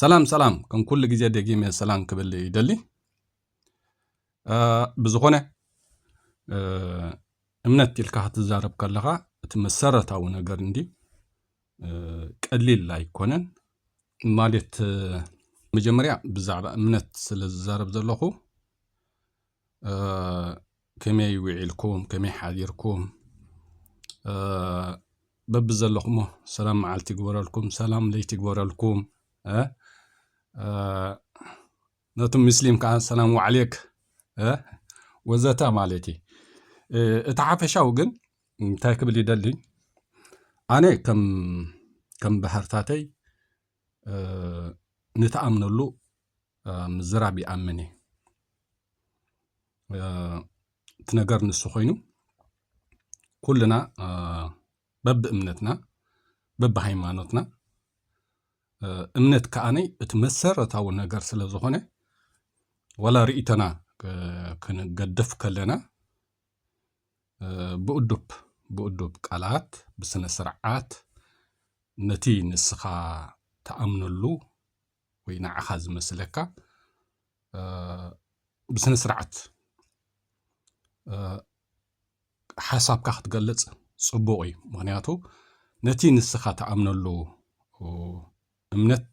ሰላም ሰላም ከም ኩሉ ግዜ ደጊመ ሰላም ክብል ይደሊ ብዝኾነ እምነት ኢልካ ክትዛረብ ከለኻ እቲ መሰረታዊ ነገር እንዲ ቀሊል ኣይኮነን ማለት መጀመርያ ብዛዕባ እምነት ስለ ዝዛረብ ዘለኹ ከመይ ዊዒልኩም ከመይ ሓዲርኩም በብዘለኹሞ ሰላም መዓልቲ ይግበረልኩም ሰላም ለይቲ ይግበረልኩም ነቲ ምስሊም ከዓ ሰላም ዋዕሌክ ወዘተ ማለት እዩ እቲ ሓፈሻዊ ግን እንታይ ክብል ይደሊ ኣነ ከም ባህርታተይ ንተኣምነሉ ምዝራብ ይኣምን እየ እቲ ነገር ንሱ ኮይኑ ኩልና በብእምነትና በብሃይማኖትና እምነት ከዓነይ እቲ መሰረታዊ ነገር ስለ ዝኾነ ወላ ርእይቶና ክንገድፍ ከለና ብእዱብ ብእዱብ ቃላት ብስነ ስርዓት ነቲ ንስኻ ተኣምነሉ ወይ ንዓኻ ዝመስለካ ብስነ ስርዓት ሓሳብካ ክትገልጽ ጽቡቕ እዩ ምክንያቱ ነቲ ንስኻ ትኣምነሉ እምነት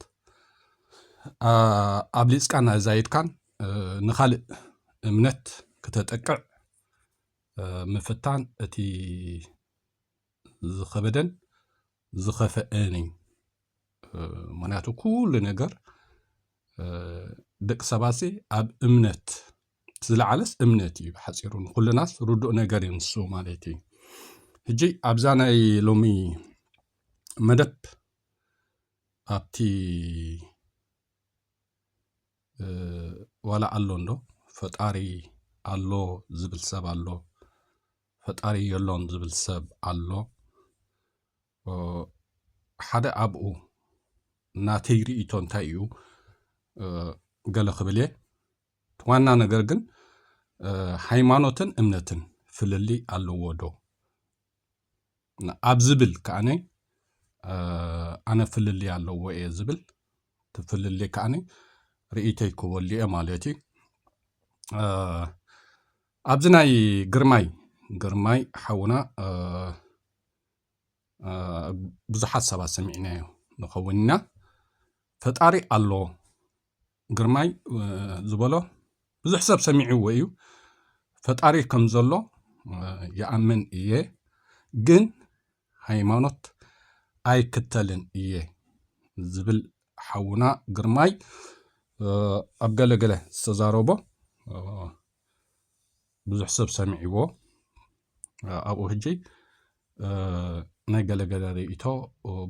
ኣብሊጽካን ኣዛይድካን ንኻልእ እምነት ክተጠቅዕ ምፍታን እቲ ዝኸበደን ዝኸፈአን እዩ ምክንያቱ ኩሉ ነገር ደቂ ሰባት ኣብ እምነት ዝለዓለስ እምነት እዩ ብሓፂሩ ንኩልናስ ርዱእ ነገር እዩ ንሱ ማለት እዩ ሕጂ ኣብዛ ናይ ሎሚ መደብ ኣብቲ ዋላ ኣሎ እንዶ ፈጣሪ ኣሎ ዝብል ሰብ ኣሎ ፈጣሪ የሎን ዝብል ሰብ ኣሎ ሓደ ኣብኡ ናተይ ርእቶ እንታይ እዩ ገለ ክብል እየ ዋና ነገር ግን ሃይማኖትን እምነትን ፍልልይ ኣለዎ ዶ ኣብ ዝብል ከዓነ ኣነ ፍልልይ ኣለዎ እየ ዝብል ትፍልልይ ከዓነ ርእተይ ክበሉ እየ ማለት እዩ ኣብዚ ናይ ግርማይ ግርማይ ሓውና ብዙሓት ሰባት ሰሚዕናዮ ንኸውን ኢና ፈጣሪ ኣሎ ግርማይ ዝበሎ ብዙሕ ሰብ ሰሚዕዎ እዩ ፈጣሪ ከም ዘሎ ይኣምን እየ ግን ሃይማኖት ኣይክተልን እየ ዝብል ሓውና ግርማይ ኣብ ገለገለ ዝተዛረቦ ብዙሕ ሰብ ሰሚዕዎ ኣብኡ ሕጂ ናይ ገለገለ ርእቶ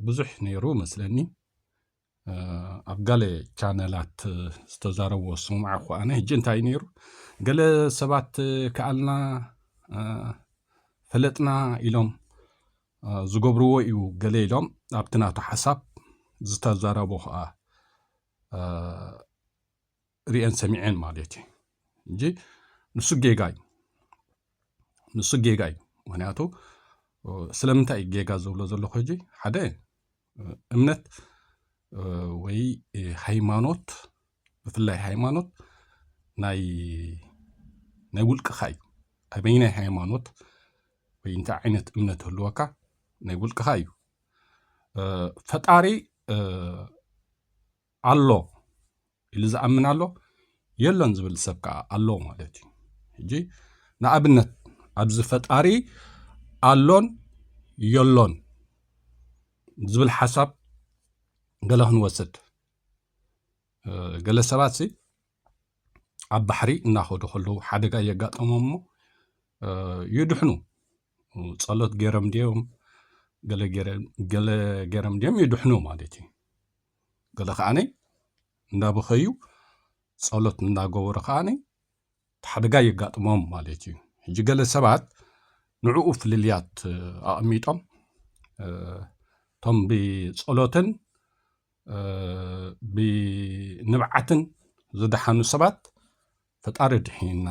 ብዙሕ ነይሩ መስለኒ ኣብ ገለ ቻነላት ዝተዛረቦ ስሙዓ እኳ ኣነ ሕጂ እንታይ ነይሩ ገለ ሰባት ክኣልና ፈለጥና ኢሎም ዝገብርዎ እዩ ገለ ኢሎም ኣብቲ ናቱ ሓሳብ ዝተዘረቦ ከዓ ርኤን ሰሚዔን ማለት እዩ እንጂ ንሱ ጌጋ እዩ ንሱ ጌጋ እዩ ምክንያቱ ስለምንታይ እዩ ጌጋ ዝብሎ ዘለኹ ሕጂ ሓደ እምነት ወይ ሃይማኖት ብፍላይ ሃይማኖት ናይ ናይ ውልቅኻ እዩ ኣበይ ናይ ሃይማኖት ወይ እንታይ ዓይነት እምነት ህልወካ ናይ ውልቅኻ እዩ ፈጣሪ ኣሎ ኢሉ ዝኣምን ኣሎ የሎን ዝብል ሰብ ከዓ ኣሎ ማለት እዩ ሕጂ ንኣብነት ኣብዚ ፈጣሪ ኣሎን የሎን ዝብል ሓሳብ ገለ ክንወስድ ገለ ሰባት ሲ ኣብ ባሕሪ እናኸዱ ከለዉ ሓደጋ እየጋጠሞም እሞ ይድሕኑ ጸሎት ገይሮም ድዮም ገለ ገይሮም ድዮም ይድሕኑ ማለት እዩ ገለ ከዓኒ እንዳበኸዩ ጸሎት እንዳገበሩ ከዓኒ ሓደጋ የጋጥሞም ማለት እዩ ሕጂ ገለ ሰባት ንዕኡ ፍልልያት ኣቐሚጦም እቶም ብጸሎትን ብንብዓትን ዝደሓኑ ሰባት ፈጣሪ ድሒንና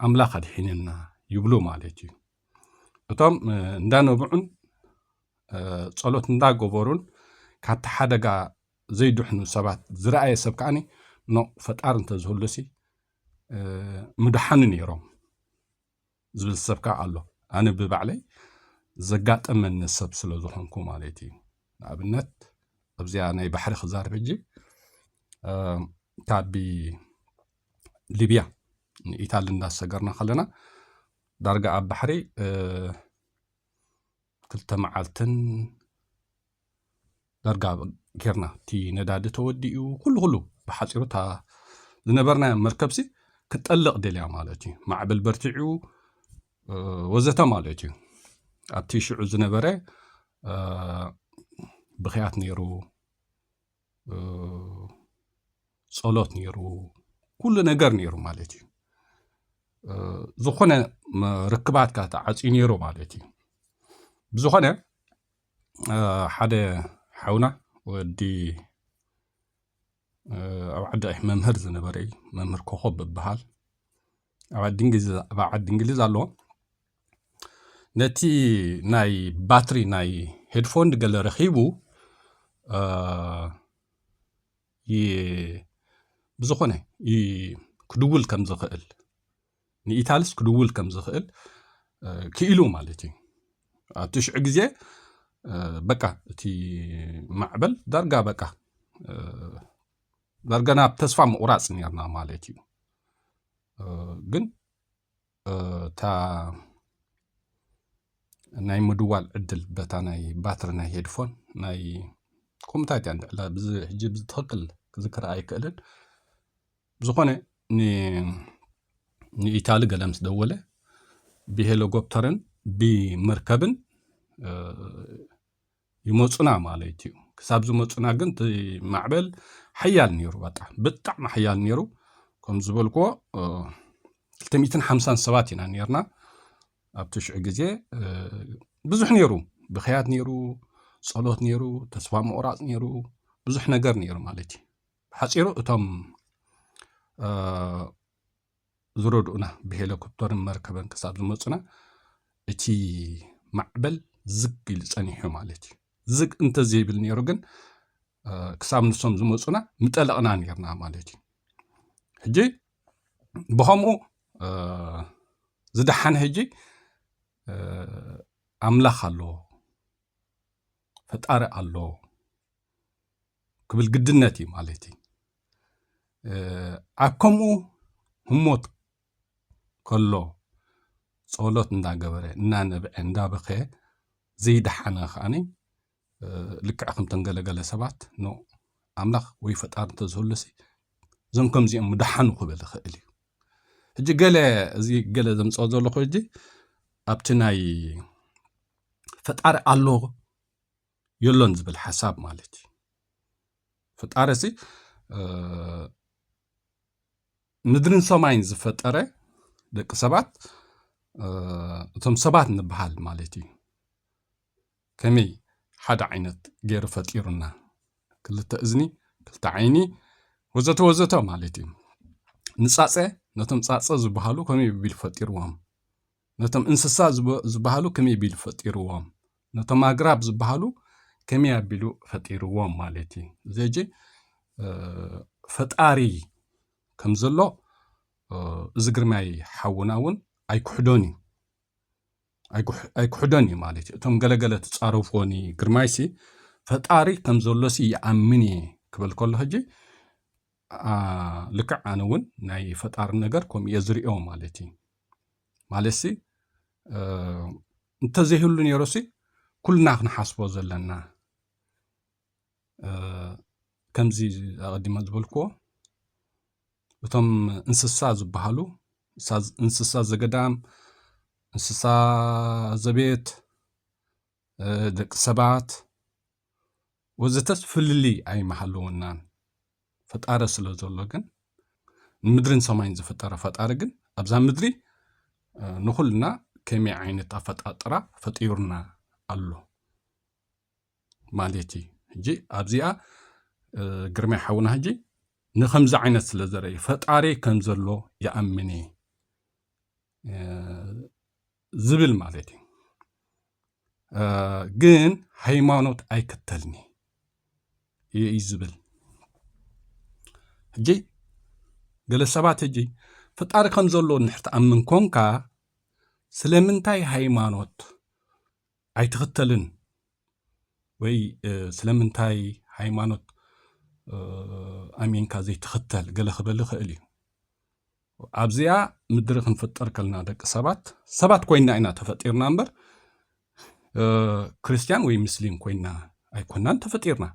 ኣምላኽ ኣድሒንና ይብሉ ማለት እዩ እቶም እንዳነብዑን ጸሎት እንዳገበሩን ካብቲ ሓደጋ ዘይድሕኑ ሰባት ዝረኣየ ሰብ ከዓኒ ኖ ፈጣሪ እንተዝህሉሲ ምድሓኑ ነይሮም ዝብል ሰብ ከዓ ኣሎ ኣነ ብባዕለይ ዘጋጠመኒ ሰብ ስለ ዝኾንኩ ማለት እዩ ንኣብነት ኣብዚኣ ናይ ባሕሪ ክዛርብ ሕጂ ካብ ሊብያ ንኢታሊ እንዳሰገርና ከለና ዳርጋ ኣብ ባሕሪ ክልተ መዓልትን ዳርጋ ጌርና እቲ ነዳዲ ተወዲኡ ኩሉ ኩሉ ብሓፂሩ እታ ዝነበርናዮ መርከብሲ ክትጠልቕ ደልያ ማለት እዩ ማዕብል በርቲዑ ወዘተ ማለት እዩ ኣብቲ ሽዑ ዝነበረ ብክያት ነይሩ ጸሎት ነይሩ ኩሉ ነገር ነይሩ ማለት እዩ ዝኾነ ርክባትካ ተዓፅዩ ነይሩ ማለት እዩ ብዝኾነ ሓደ ሓውና ወዲ ኣብ ዓዲ መምህር ዝነበረ እዩ መምህር ኮኸብ ብበሃል ኣብ ዓዲ እንግሊዝ ኣሎ ነቲ ናይ ባትሪ ናይ ሄድፎን ገለ ረኺቡ ብዝኾነ ክድውል ከም ዝኽእል ንኢታልስ ክድውል ከም ዝኽእል ክኢሉ ማለት እዩ ኣብ ትሽዑ ግዜ በቃ እቲ ማዕበል ዳርጋ በቃ ዳርጋ ናብ ተስፋ ምቑራፅ ነርና ማለት እዩ ግን እታ ናይ ምድዋል ዕድል በታ ናይ ባትሪ ናይ ሄድፎን ናይ ኮምታት እያ ንዕላ ብዚ ሕጂ ብትኽክል ክዝክራ ኣይክእልን ዝኾነ ንኢታሊ ገለ ምስ ደወለ ብሄሊኮፕተርን ብመርከብን ይመጹና ማለት እዩ ክሳብ ዝመጹና ግን እቲ ማዕበል ሓያል ነይሩ በጣም ብጣዕሚ ሓያል ነይሩ ከም ዝበልክዎ 250 ሰባት ኢና ነርና ኣብቲ ሽዑ ግዜ ብዙሕ ነይሩ ብክያት ነይሩ ጸሎት ነይሩ ተስፋ ምቑራፅ ነይሩ ብዙሕ ነገር ነይሩ ማለት እዩ ብሓፂሩ እቶም ዝረድኡና ብሄለኮፕተርን መርከበን ክሳብ ዝመፁና እቲ ማዕበል ዝግ ኢሉ ጸኒሑ ማለት እዩ ዝግ እንተዘይብል ነይሩ ግን ክሳብ ንሶም ዝመፁና ምጠለቕና ነርና ማለት እዩ ሕጂ ብከምኡ ዝደሓነ ሕጂ ኣምላኽ ኣሎ ፈጣሪ ኣሎ ክብል ግድነት እዩ ማለት እዩ ኣብ ከምኡ ህሞት ከሎ ጸሎት እንዳገበረ እናነብዐ እንዳበኸ ዘይደሓነ ከዓኒ ልክዕ ከምተን ገለገለ ሰባት ኖ ኣምላኽ ወይ ፈጣሪ እንተዝህሉሲ እዞም ከምዚኦም ምደሓኑ ክብል ይኽእል እዩ ሕጂ ገለ እዚ ገለ ዘምፅኦ ዘለኹ ሕጂ ኣብቲ ናይ ፈጣሪ ኣሎ የሎን ዝብል ሓሳብ ማለት እዩ ፈጣሪ ሲ ምድርን ሰማይን ዝፈጠረ ደቂ ሰባት እቶም ሰባት ንበሃል ማለት እዩ ከመይ ሓደ ዓይነት ገይሩ ፈጢሩና ክልተ እዝኒ ክልተ ዓይኒ ወዘተ ወዘተ ማለት እዩ ንፃፀ ነቶም ፃፀ ዝበሃሉ ከመይ ቢሉ ፈጢርዎም ነቶም እንስሳ ዝበሃሉ ከመይ ቢሉ ፈጢርዎም ነቶም ኣግራብ ዝበሃሉ ከመይ ኣቢሉ ፈጢርዎም ማለት እዩ ዘጂ ፈጣሪ ከም ዘሎ እዚ ግርማይ ሓውና እውን ኣይክሕዶን እዩ ኣይክሕዶን እዩ ማለት እዩ እቶም ገለገለ ትፃረፍዎኒ ግርማይሲ ፈጣሪ ከም ዘሎሲ ይኣምን እየ ክበል ከሎ ሕጂ ልክዕ ኣነ እውን ናይ ፈጣሪ ነገር ከምኡ እየ ዝሪኦ ማለት እዩ ማለትሲ እንተዘይህሉ ነይሩሲ ኩልና ክንሓስቦ ዘለና ከምዚ ኣቐዲመ ዝበልክዎ እቶም እንስሳ ዝበሃሉ እንስሳ ዘገዳም እንስሳ ዘቤት ደቂ ሰባት ወዘተስ ፍልልይ ኣይምሃለወናን ፈጣረ ስለ ዘሎ ግን ንምድርን ሰማይን ዝፈጠረ ፈጣሪ ግን ኣብዛ ምድሪ ንኹልና ከመይ ዓይነት ኣፈጣጥራ ፈጢሩና ኣሎ ማለት እዩ ሕጂ ኣብዚኣ ግርማይ ሓውና ሕጂ ንከምዚ ዓይነት ስለ ዘረኢ ፈጣሪ ከም ዘሎ ይኣምን እየ ዝብል ማለት እዩ ግን ሃይማኖት ኣይክተልኒ እዩ ዝብል ሕጂ ገለ ሰባት ሕጂ ፈጣሪ ከም ዘሎ ንድሕር ትኣምን ኮንካ ስለምንታይ ሃይማኖት ኣይትኽተልን ወይ ስለምንታይ ሃይማኖት ኣሚንካ ዘይትኽተል ገለ ክበል ይኽእል እዩ ኣብዚኣ ምድሪ ክንፍጠር ከልና ደቂ ሰባት ሰባት ኮይና ኢና ተፈጢርና እምበር ክርስትያን ወይ ምስሊም ኮይና ኣይኮናን ተፈጢርና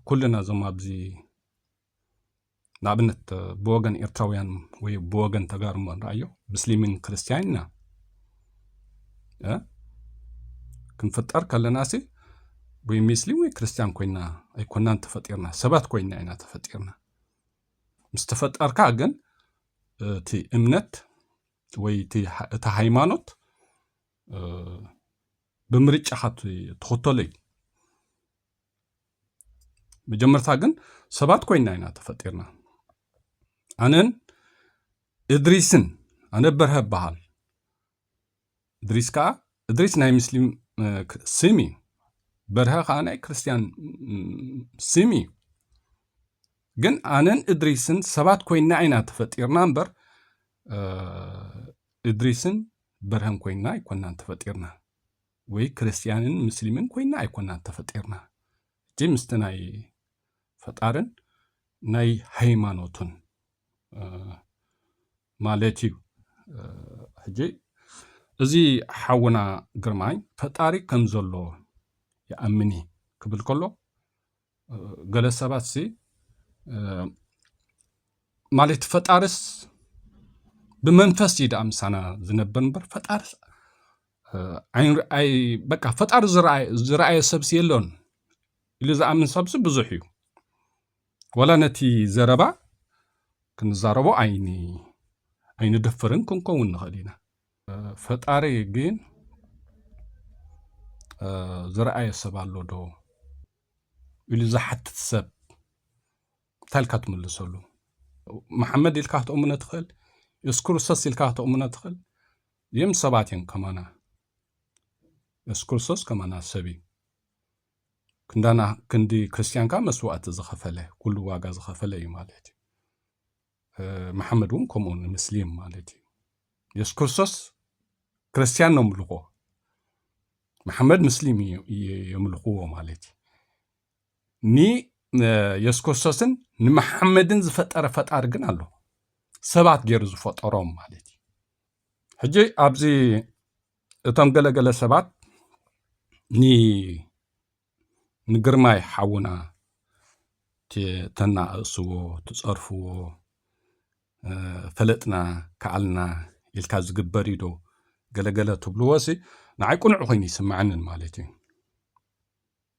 ኩልና እዞም ኣብዚ ንኣብነት ብወገን ኤርትራውያን ወይ ብወገን ተጋሩ እሞ ንርኣዮ ምስሊምን ክርስትያን ኢና ክንፍጠር ከለናሲ ወይ ምስሊም ወይ ክርስትያን ኮይና ኣይኮናን ተፈጢርና ሰባት ኮይና ኢና ተፈጢርና ምስ ተፈጠርካ ግን እቲ እምነት ወይ እቲ ሃይማኖት ብምርጫኻ ትኽተሎ እዩ መጀመርታ ግን ሰባት ኮይና ኢና ተፈጢርና ኣነን እድሪስን ኣነ በርሀ በሃል እድሪስ ከዓ እድሪስ ናይ ሙስሊም ስም እዩ በርሀ ከዓ ናይ ክርስትያን ስም እዩ ግን ኣነን እድሪስን ሰባት ኮይና ኢና ተፈጢርና እምበር እድሪስን በርሀን ኮይንና ኣይኮናን ተፈጢርና ወይ ክርስትያንን ምስሊምን ኮይንና ኣይኮናን ተፈጢርና እጂ ምስቲ ናይ ፈጣርን ናይ ሃይማኖቱን ማለት እዩ ሕጂ እዚ ሓውና ግርማይ ፈጣሪ ከም ዘሎ ይኣምን ክብል ከሎ ገለ ሰባት ሲ ማለት ፈጣርስ ብመንፈስ እዩ ደኣ ምሳና ዝነበር እምበር ፈጣሪ ኣይንርኣይ በቃ ፈጣሪ ዝረኣየ ሰብሲ የሎን ኢሉ ዝኣምን ሰብሲ ብዙሕ እዩ ወላ ነቲ ዘረባ ክንዛረቦ ኣይኒ ኣይንደፍርን ክንከውን ንኽእል ኢና ፈጣሪ ግን ዝረኣየ ሰብ ኣሎ ዶ ኢሉ ዝሓትት ሰብ እንታይ ኢልካ ትምልሰሉ? መሓመድ ኢልካ ክትእምኖ ትኽእል፣ የሱስ ክርስቶስ ኢልካ ክትእምኖ ትኽእል። እዚኦም ሰባት እዮም ከማና። የሱስ ክርስቶስ ከማና ሰብ እዩ። ክንዳና ክንዲ ክርስትያንካ መስዋእቲ ዝኸፈለ ኩሉ ዋጋ ዝኸፈለ እዩ ማለት እዩ። መሓመድ እውን ከምኡ ንምስሊም ማለት እዩ የሱስ ክርስቶስ ክርስትያን ነምልኾ መሓመድ ምስሊም የምልኽዎ ማለት እዩ ንየሱስ ክርስቶስን ንመሓመድን ዝፈጠረ ፈጣሪ ግን ኣሎ ሰባት ገይሩ ዝፈጠሮም ማለት እዩ ሕጂ ኣብዚ እቶም ገለገለ ሰባት ንግርማይ ሓውና ተናኣእስዎ ትፀርፍዎ ፈለጥና ከኣልና ኢልካ ዝግበር እዩ ዶ ገለገለ ትብልዎ ሲ ንዓይ ቁኑዕ ኮይኑ ይስምዓንን ማለት እዩ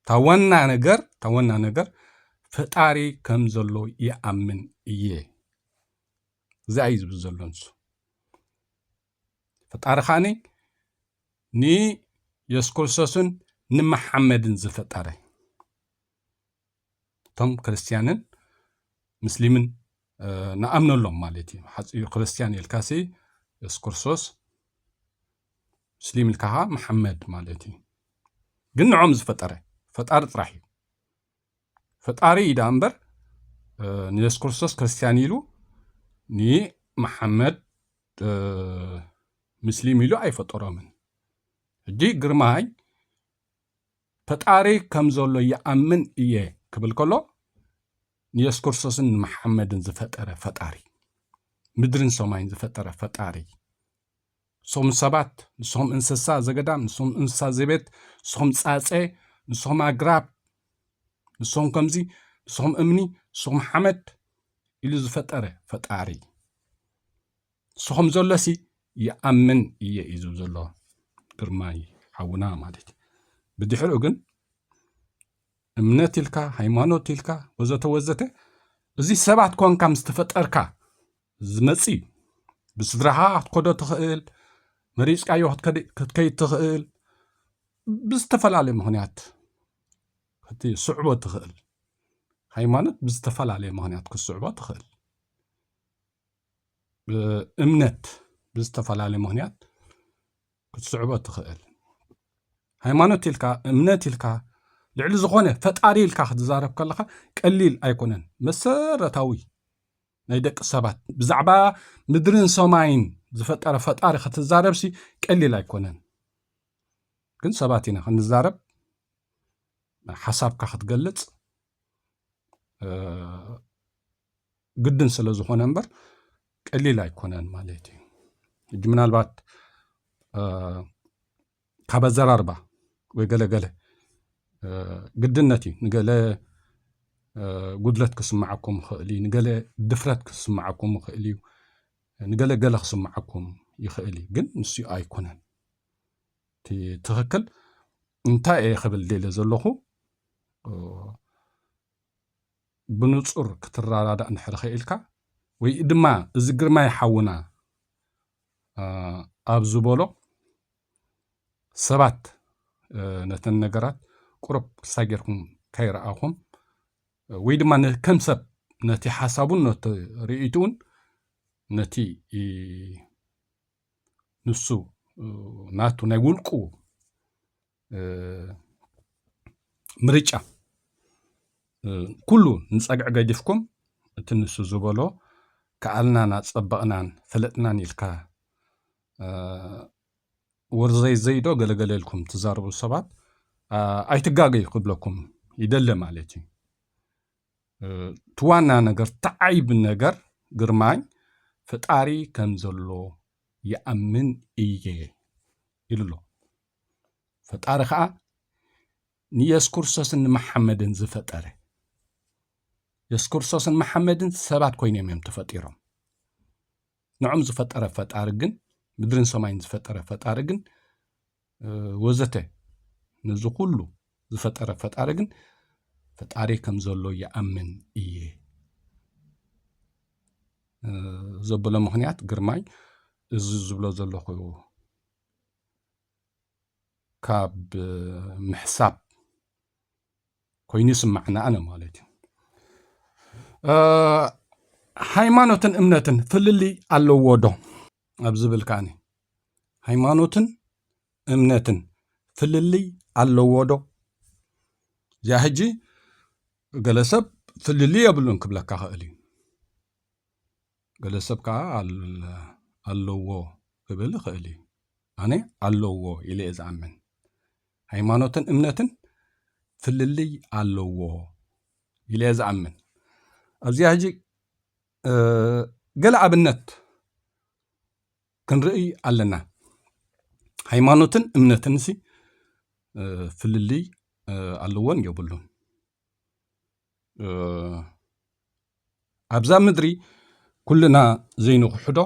እታ ዋና ነገር እታ ዋና ነገር ፈጣሪ ከም ዘሎ ይኣምን እየ እዛ እዩ ዝብል ዘሎ ንሱ ፈጣሪ ከዓኒ ንየሱስ ክርስቶስን ንመሓመድን ዝፈጠረ እቶም ክርስትያንን ምስሊምን ንኣምነሎም ማለት እዩ ሓፂኡ ክርስትያን ኢልካሲ የሱስ ክርስቶስ ምስሊም ኢልካ ከዓ መሓመድ ማለት እዩ ግን ንዖም ዝፈጠረ ፈጣሪ ጥራሕ እዩ ፈጣሪ እዩ ደኣ እምበር ንየሱስ ክርስቶስ ክርስትያን ኢሉ ንመሓመድ ምስሊም ኢሉ ኣይፈጠሮምን። ሕጂ ግርማይ ፈጣሪ ከም ዘሎ ይኣምን እየ ክብል ከሎ ንየሱስ ክርስቶስን ንመሓመድን ዝፈጠረ ፈጣሪ ምድርን ሰማይን ዝፈጠረ ፈጣሪ ንስኹም ሰባት፣ ንስኹም እንስሳ ዘገዳም፣ ንስኹም እንስሳ ዘቤት፣ ንስኹም ጻጸ፣ ንስኹም ኣግራብ፣ ንስኹም ከምዚ፣ ንስኹም እምኒ፣ ንስኹም ሓመድ ኢሉ ዝፈጠረ ፈጣሪ ንስኹም ዘሎሲ ይኣምን እየ እዩ ዝብ ዘሎ ግርማይ ሓውና ማለት እዩ ብድሕሪኡ ግን እምነት ኢልካ ሃይማኖት ኢልካ ወዘተ ወዘተ እዚ ሰባት ኮንካ ምስ ተፈጠርካ ዝመጽእ እዩ። ብስድራኻ ክትከዶ ትኽእል፣ መሪጽካዮ ክትከይድ ትኽእል፣ ብዝተፈላለየ ምኽንያት ክትስዕቦ ትኽእል። ሃይማኖት ብዝተፈላለየ ምኽንያት ክትስዕቦ ትኽእል። እምነት ብዝተፈላለየ ምኽንያት ክትስዕቦ ትኽእል። ሃይማኖት ኢልካ እምነት ኢልካ ልዕሊ ዝኾነ ፈጣሪ ኢልካ ክትዛረብ ከለካ ቀሊል ኣይኮነን መሰረታዊ ናይ ደቂ ሰባት ብዛዕባ ምድርን ሰማይን ዝፈጠረ ፈጣሪ ክትዛረብሲ ቀሊል ኣይኮነን። ግን ሰባት ኢና ክንዛረብ ሓሳብካ ክትገልጽ ግድን ስለ ዝኾነ እምበር ቀሊል ኣይኮነን ማለት እዩ ሕጂ ምናልባት ካብ ኣዘራርባ ወይ ገለገለ ግድነት እዩ ንገለ ጉድለት ክስምዓኩም ይኽእል እዩ ንገለ ድፍረት ክስምዓኩም ይኽእል እዩ ንገለ ገለ ክስምዓኩም ይኽእል እዩ ግን ንሱ ኣይኮነን እቲ ትኽክል እንታይ እየ ክብል ደለ ዘለኹ ብኑጹር ክትራዳዳእ እንድሕሪ ኸኢልካ ወይድማ እዚ ግርማይ ሓውና ኣብ ዝበሎ ሰባት ነተን ነገራት ቁሩብ ክስታይ ጌርኩም ከይረኣኹም ወይ ድማ ከም ሰብ ነቲ ሓሳቡን ነቲ ርእይትኡን ነቲ ንሱ ናቱ ናይ ውልቁ ምርጫ ኩሉ ንፀግዒ ገዲፍኩም እቲ ንሱ ዝበሎ ከኣልናን ኣፀበቕናን ፈለጥናን ኢልካ ወርዘይ ዘይዶ ገለገለ ኢልኩም ትዛረቡ ሰባት ኣይትጋገዩ ክብለኩም ይደለ ማለት እዩ እቲ ዋና ነገር ተዓይብ ነገር ግርማኝ ፈጣሪ ከም ዘሎ ይኣምን እየ ኢሉ ኣሎ ፈጣሪ ከዓ ንየሱስ ክርስቶስን ንመሓመድን ዝፈጠረ የሱስ ክርስቶስን መሓመድን ሰባት ኮይኖም እዮም ተፈጢሮም ንዕም ዝፈጠረ ፈጣሪ ግን ምድርን ሰማይን ዝፈጠረ ፈጣሪ ግን ወዘተ ነዚ ኩሉ ዝፈጠረ ፈጣሪ ግን ፈጣሪ ከም ዘሎ ይኣምን እየ ዘበሎ ምክንያት ግርማይ እዚ ዝብሎ ዘለኹ ካብ ምሕሳብ ኮይኑ ይስማዕና ኣነ ማለት እዩ ሃይማኖትን እምነትን ፍልልይ ኣለዎ ዶ ኣብ ዝብል ከዓኒ ሃይማኖትን እምነትን ፍልልይ ኣለዎ ዶ እዚኣ ሕጂ ገለ ሰብ ፍልልይ የብሉን ክብለካ ኽእል እዩ ገለ ሰብ ከኣ ኣለዎ ክብል ይኽእል እዩ። ኣነ ኣለዎ ኢለ እየ ዝኣምን። ሃይማኖትን እምነትን ፍልልይ ኣለዎ ኢለ እየ ዝኣምን። ኣብዚኣ ሕጂ ገለ ኣብነት ክንርእይ ኣለና ሃይማኖትን እምነትንሲ ፍልልይ ኣለዎን የብሉን ኣብዛ ምድሪ ኩልና ዘይንኽሕዶ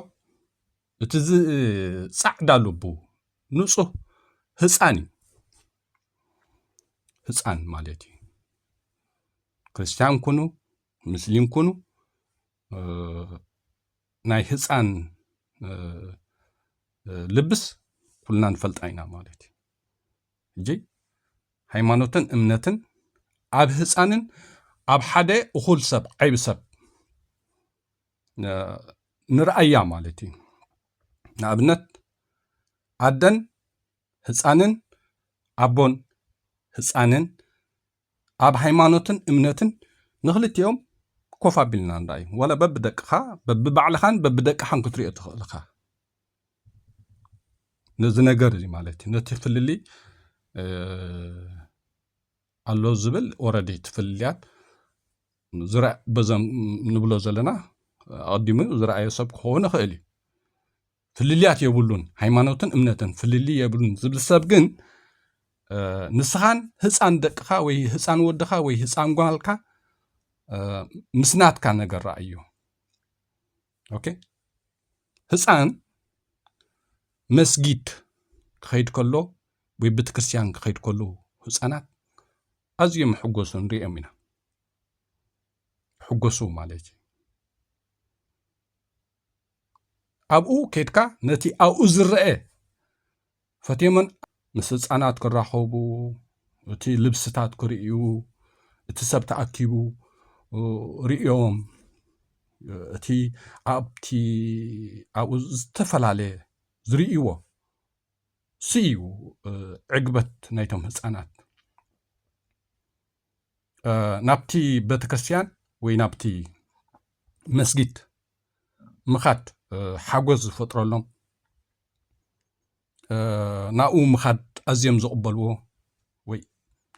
እቲ ፃዕዳ ልቡ ንፁህ ህፃን እዩ ህፃን ማለት እዩ ክርስትያን ኩኑ ሙስሊም ኩኑ ናይ ህፃን ልብስ ኩልና ንፈልጣ ኢና ማለት እዩ ሕጂ ሃይማኖትን እምነትን ኣብ ህፃንን ኣብ ሓደ እኹል ሰብ ዓይቢ ሰብ ንርኣያ ማለት እዩ ንኣብነት ኣደን ህፃንን ኣቦን ህፃንን ኣብ ሃይማኖትን እምነትን ንኽልቲኦም ኮፍ ኣቢልና ንርኣዩ ዋላ በብደቅኻ በብባዕልኻን በብደቅኻን ክትሪኦ ትኽእል ኢኻ ነዚ ነገር እዚ ማለት እዩ ነቲ ፍልሊ ኣሎ ዝብል ኦረዲ እቲ ፍልልያት በዞም ንብሎ ዘለና ኣቐዲሙ ዝረኣየ ሰብ ክኸውን ይኽእል እዩ ፍልልያት የብሉን ሃይማኖትን እምነትን ፍልልይ የብሉን ዝብል ሰብ ግን ንስኻን ህፃን ደቅኻ ወይ ህፃን ወድኻ ወይ ህፃን ጓልካ ምስ ናትካ ነገር ረኣዮ ኦኬ ህፃን መስጊድ ክኸይድ ከሎ ወይ ቤተ ክርስቲያን ክኸይድ ከሎ ህፃናት ኣዝዮም ሕጎሱ ንሪኦም ኢና ሕጎሱ ማለት እዩ ኣብኡ ኬድካ ነቲ ኣብኡ ዝረአ ፈትዮመን ምስ ህፃናት ክራኸቡ እቲ ልብስታት ክርእዩ እቲ ሰብ ተኣኪቡ ርእዮም እቲ ኣብቲ ኣብኡ ዝተፈላለየ ዝርእይዎ ስዩ ዕግበት ናይቶም ህፃናት ናብቲ ቤተክርስትያን ወይ ናብቲ መስጊድ ምኻድ ሓጎስ ዝፈጥረሎም ናብኡ ምኻድ ኣዝዮም ዝቕበልዎ ወይ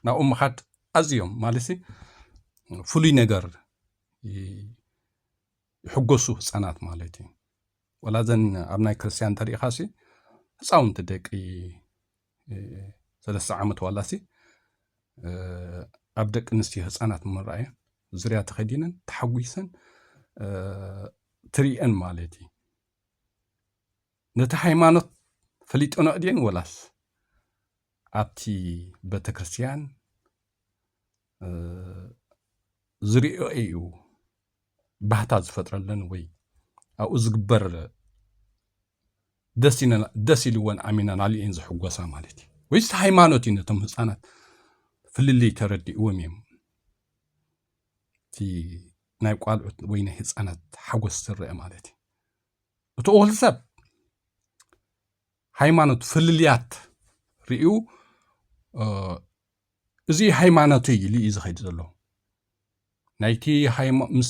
ናብኡ ምኻድ ኣዝዮም ማለት ፍሉይ ነገር ይሕጎሱ ህፃናት ማለት እዩ ወላ ዘን ኣብ ናይ ክርስትያን ተሪኢኻሲ ህፃውንቲ ደቂ ሰለስተ ዓመት ዋላሲ ኣብ ደቂ ኣንስትዮ ህፃናት ምርኣየን ዙርያ ተኸዲነን ተሓጒሰን ትርየን ማለት እዩ ነቲ ሃይማኖት ፈሊጦኖ እድን ወላስ ኣብቲ ቤተክርስትያን ዝርእዮ እዩ ባህታ ዝፈጥረለን ወይ ኣብኡ ዝግበር ደስ ኢልወን ኣሚናናሉ እየን ዝሕጎሳ ማለት እዩ ወይስ ሃይማኖት እዩ ነቶም ህፃናት ፍልልይ ተረዲእዎም እዮም እቲ ናይ ቋልዑት ወይ ናይ ህፃናት ሓጎስ ዝረአ ማለት እዩ እቲ ወል ሰብ ሃይማኖት ፍልልያት ርእዩ እዚ ሃይማኖተይ ኢሉ እዩ ዝኸይድ ዘሎ ናይቲ ምስ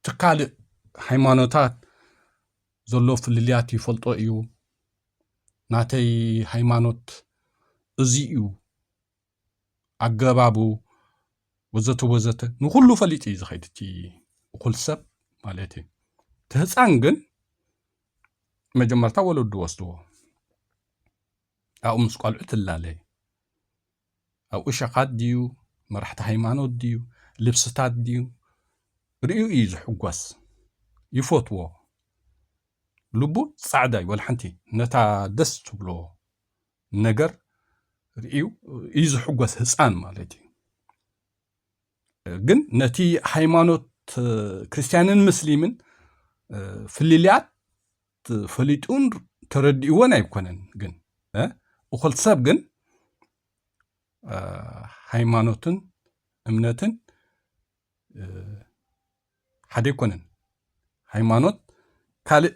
ትካልእ ሃይማኖታት ዘሎ ፍልልያት ይፈልጦ እዩ ናተይ ሃይማኖት እዚ እዩ ኣገባቡ ወዘተ ወዘተ ንኩሉ ፈሊጥ እዩ ዝኸይድ እቲ እኹል ሰብ ማለት እዩ እቲ ህፃን ግን መጀመርታ ወለዱ ወስድዎ ኣብኡ ምስ ቆልዑ ትላለይ ኣብ እሸኻት ድዩ መራሕቲ ሃይማኖት ድዩ ልብስታት ድዩ ርእዩ እዩ ዝሕጎስ ይፈትዎ ልቡ ጻዕዳ እዩ ወልሓንቲ ነታ ደስ ትብሎ ነገር ርእዩ እዩ ዝሕጎስ ህፃን ማለት እዩ ግን ነቲ ሃይማኖት ክርስትያንን ምስሊምን ፍልልያት ፈሊጡን ተረዲእዎን ኣይኮነን ግን እኹል ሰብ ግን ሃይማኖትን እምነትን ሓደ ኣይኮነን ሃይማኖት ካልእ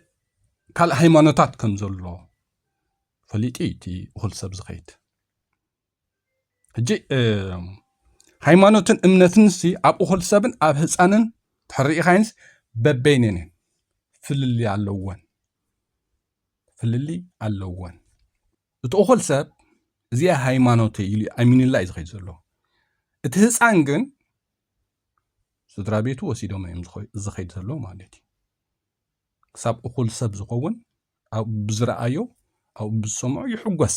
ካልእ ሃይማኖታት ከም ዘሎ ፈሊጡ እዩ እቲ እኹል ሰብ ዝኸይድ ሕጂ ሃይማኖትን እምነትን ሲ ኣብ እኹል ሰብን ኣብ ህፃንን ተሕርኢኻይንስ በበይነን እየን ፍልሊ ኣለወን ፍልሊ ኣለወን እቲ እኹል ሰብ እዚኣ ሃይማኖት ኢሉ ኣሚኑላ እዩ ዝኸይድ ዘሎ እቲ ህፃን ግን ስድራ ቤቱ ወሲዶም እዮም ዝኸይድ ዘሎ ማለት እዩ ክሳብ እኹል ሰብ ዝኸውን ኣብኡ ብዝረኣዮ ኣብኡ ብዝሰምዖ ይሕጎስ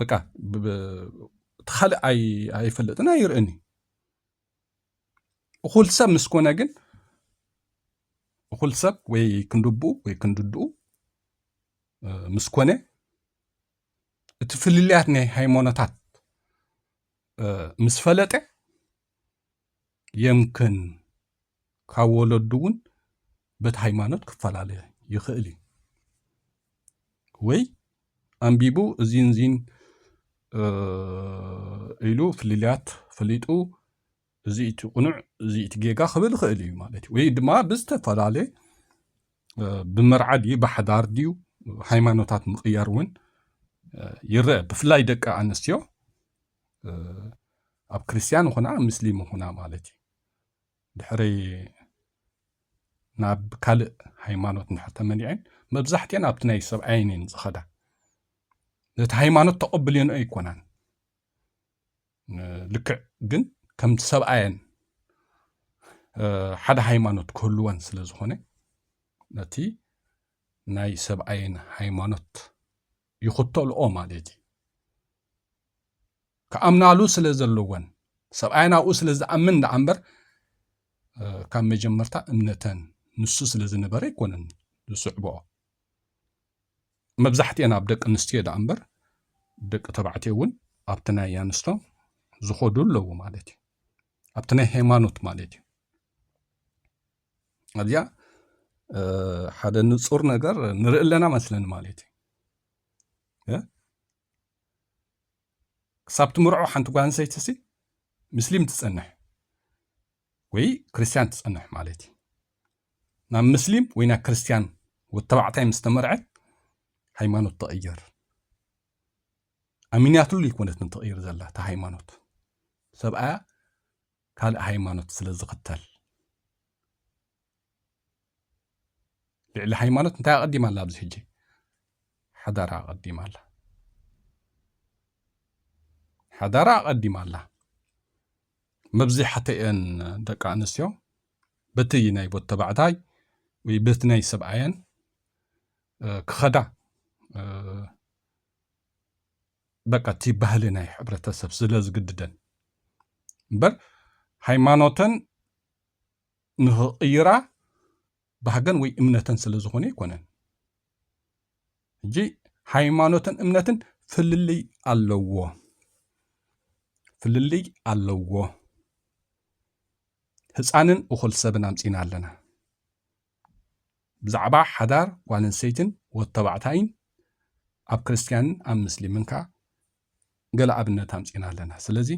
በቃ እቲ ካልእ ኣይፈልጥን ኣይርእን እዩ እኹል ሰብ ምስ ኮነ ግን እኹል ሰብ ወይ ክንድብኡ ወይ ክንድድኡ ምስ ኮነ እቲ ፍልልያት ናይ ሃይማኖታት ምስ ፈለጠ የምክን ካብ ወለዱ እውን በቲ ሃይማኖት ክፈላለ ይኽእል እዩ ወይ ኣንቢቡ እዚን እዚን ኢሉ ፍልልያት ፈሊጡ እዚ እቲ ቁኑዕ እዚ እቲ ጌጋ ክብል ይኽእል እዩ ማለት እዩ ወይ ድማ ብዝተፈላለ ብመርዓ ድዩ ብሓዳር ድዩ ሃይማኖታት ምቕያር እውን ይረአ ብፍላይ ደቂ ኣንስትዮ ኣብ ክርስትያን ይኹና ኣብ ምስሊም ይኹና ማለት እዩ ድሕሪ ናብ ካልእ ሃይማኖት ንድሕር ተመሊዐን መብዛሕትኤን ኣብቲ ናይ ሰብኣየን እየን ዝኸዳ ነቲ ሃይማኖት ተቐብልዮን ኣይኮናን ልክዕ ግን ከም ሰብኣየን ሓደ ሃይማኖት ክህልወን ስለ ዝኾነ ነቲ ናይ ሰብኣየን ሃይማኖት ይኽተልኦ ማለት እዩ። ክኣምናሉ ስለ ዘለወን ሰብኣየን ኣብኡ ስለ ዝኣምን ደኣ እምበር ካብ መጀመርታ እምነተን ንሱ ስለ ዝነበረ ኣይኮነን ዝስዕብኦ መብዛሕትኤን ኣብ ደቂ ኣንስትዮ ደኣ እምበር ደቂ ተባዕትዮ እውን ኣብቲ ናይ ኣንስቶ ዝኸዱ ኣለዉ ማለት እዩ ኣብቲ ናይ ሃይማኖት ማለት እዩ ኣብዚኣ ሓደ ንፁር ነገር ንርኢ ኣለና መስለኒ ማለት እዩ ክሳብ ትምርዖ ሓንቲ ጓል ኣንሰይቲ ሲ ምስሊም ትፀንሕ ወይ ክርስትያን ትፀንሕ ማለት እዩ ናብ ምስሊም ወይ ናብ ክርስትያን ወተባዕታይ ምስ ተመርዐት ሃይማኖት ተቐየር ኣሚንያትሉ ይኮነት ንትቕይር ዘላ እቲ ሃይማኖት ሰብኣያ ካልእ ሃይማኖት ስለ ዝኽተል። ልዕሊ ሃይማኖት እንታይ ኣቐዲማ ኣላ? ኣብዚ ሕጂ ሓዳራ ኣቐዲማ ኣላ። ሓዳራ ኣቐዲማ ኣላ። መብዚሓተኤን ደቂ ኣንስትዮ በቲ ናይ ቦት ተባዕታይ ወይ በቲ ናይ ሰብኣየን ክኸዳ በቃ እቲ ባህሊ ናይ ሕብረተሰብ ስለ ዝግድደን እምበር ሃይማኖተን ንኽቕይራ ባህገን ወይ እምነተን ስለ ዝኾነ ኣይኮነን። ሕጂ ሃይማኖትን እምነትን ፍልልይ ኣለዎ ፍልልይ ኣለዎ። ህፃንን እኹል ሰብን ኣምፂና ኣለና። ብዛዕባ ሓዳር ጓለንስተይትን ወድተባዕታይን ኣብ ክርስትያንን ኣብ ምስሊምን ከኣ ገለ ኣብነት ኣምጺእና ኣለና። ስለዚ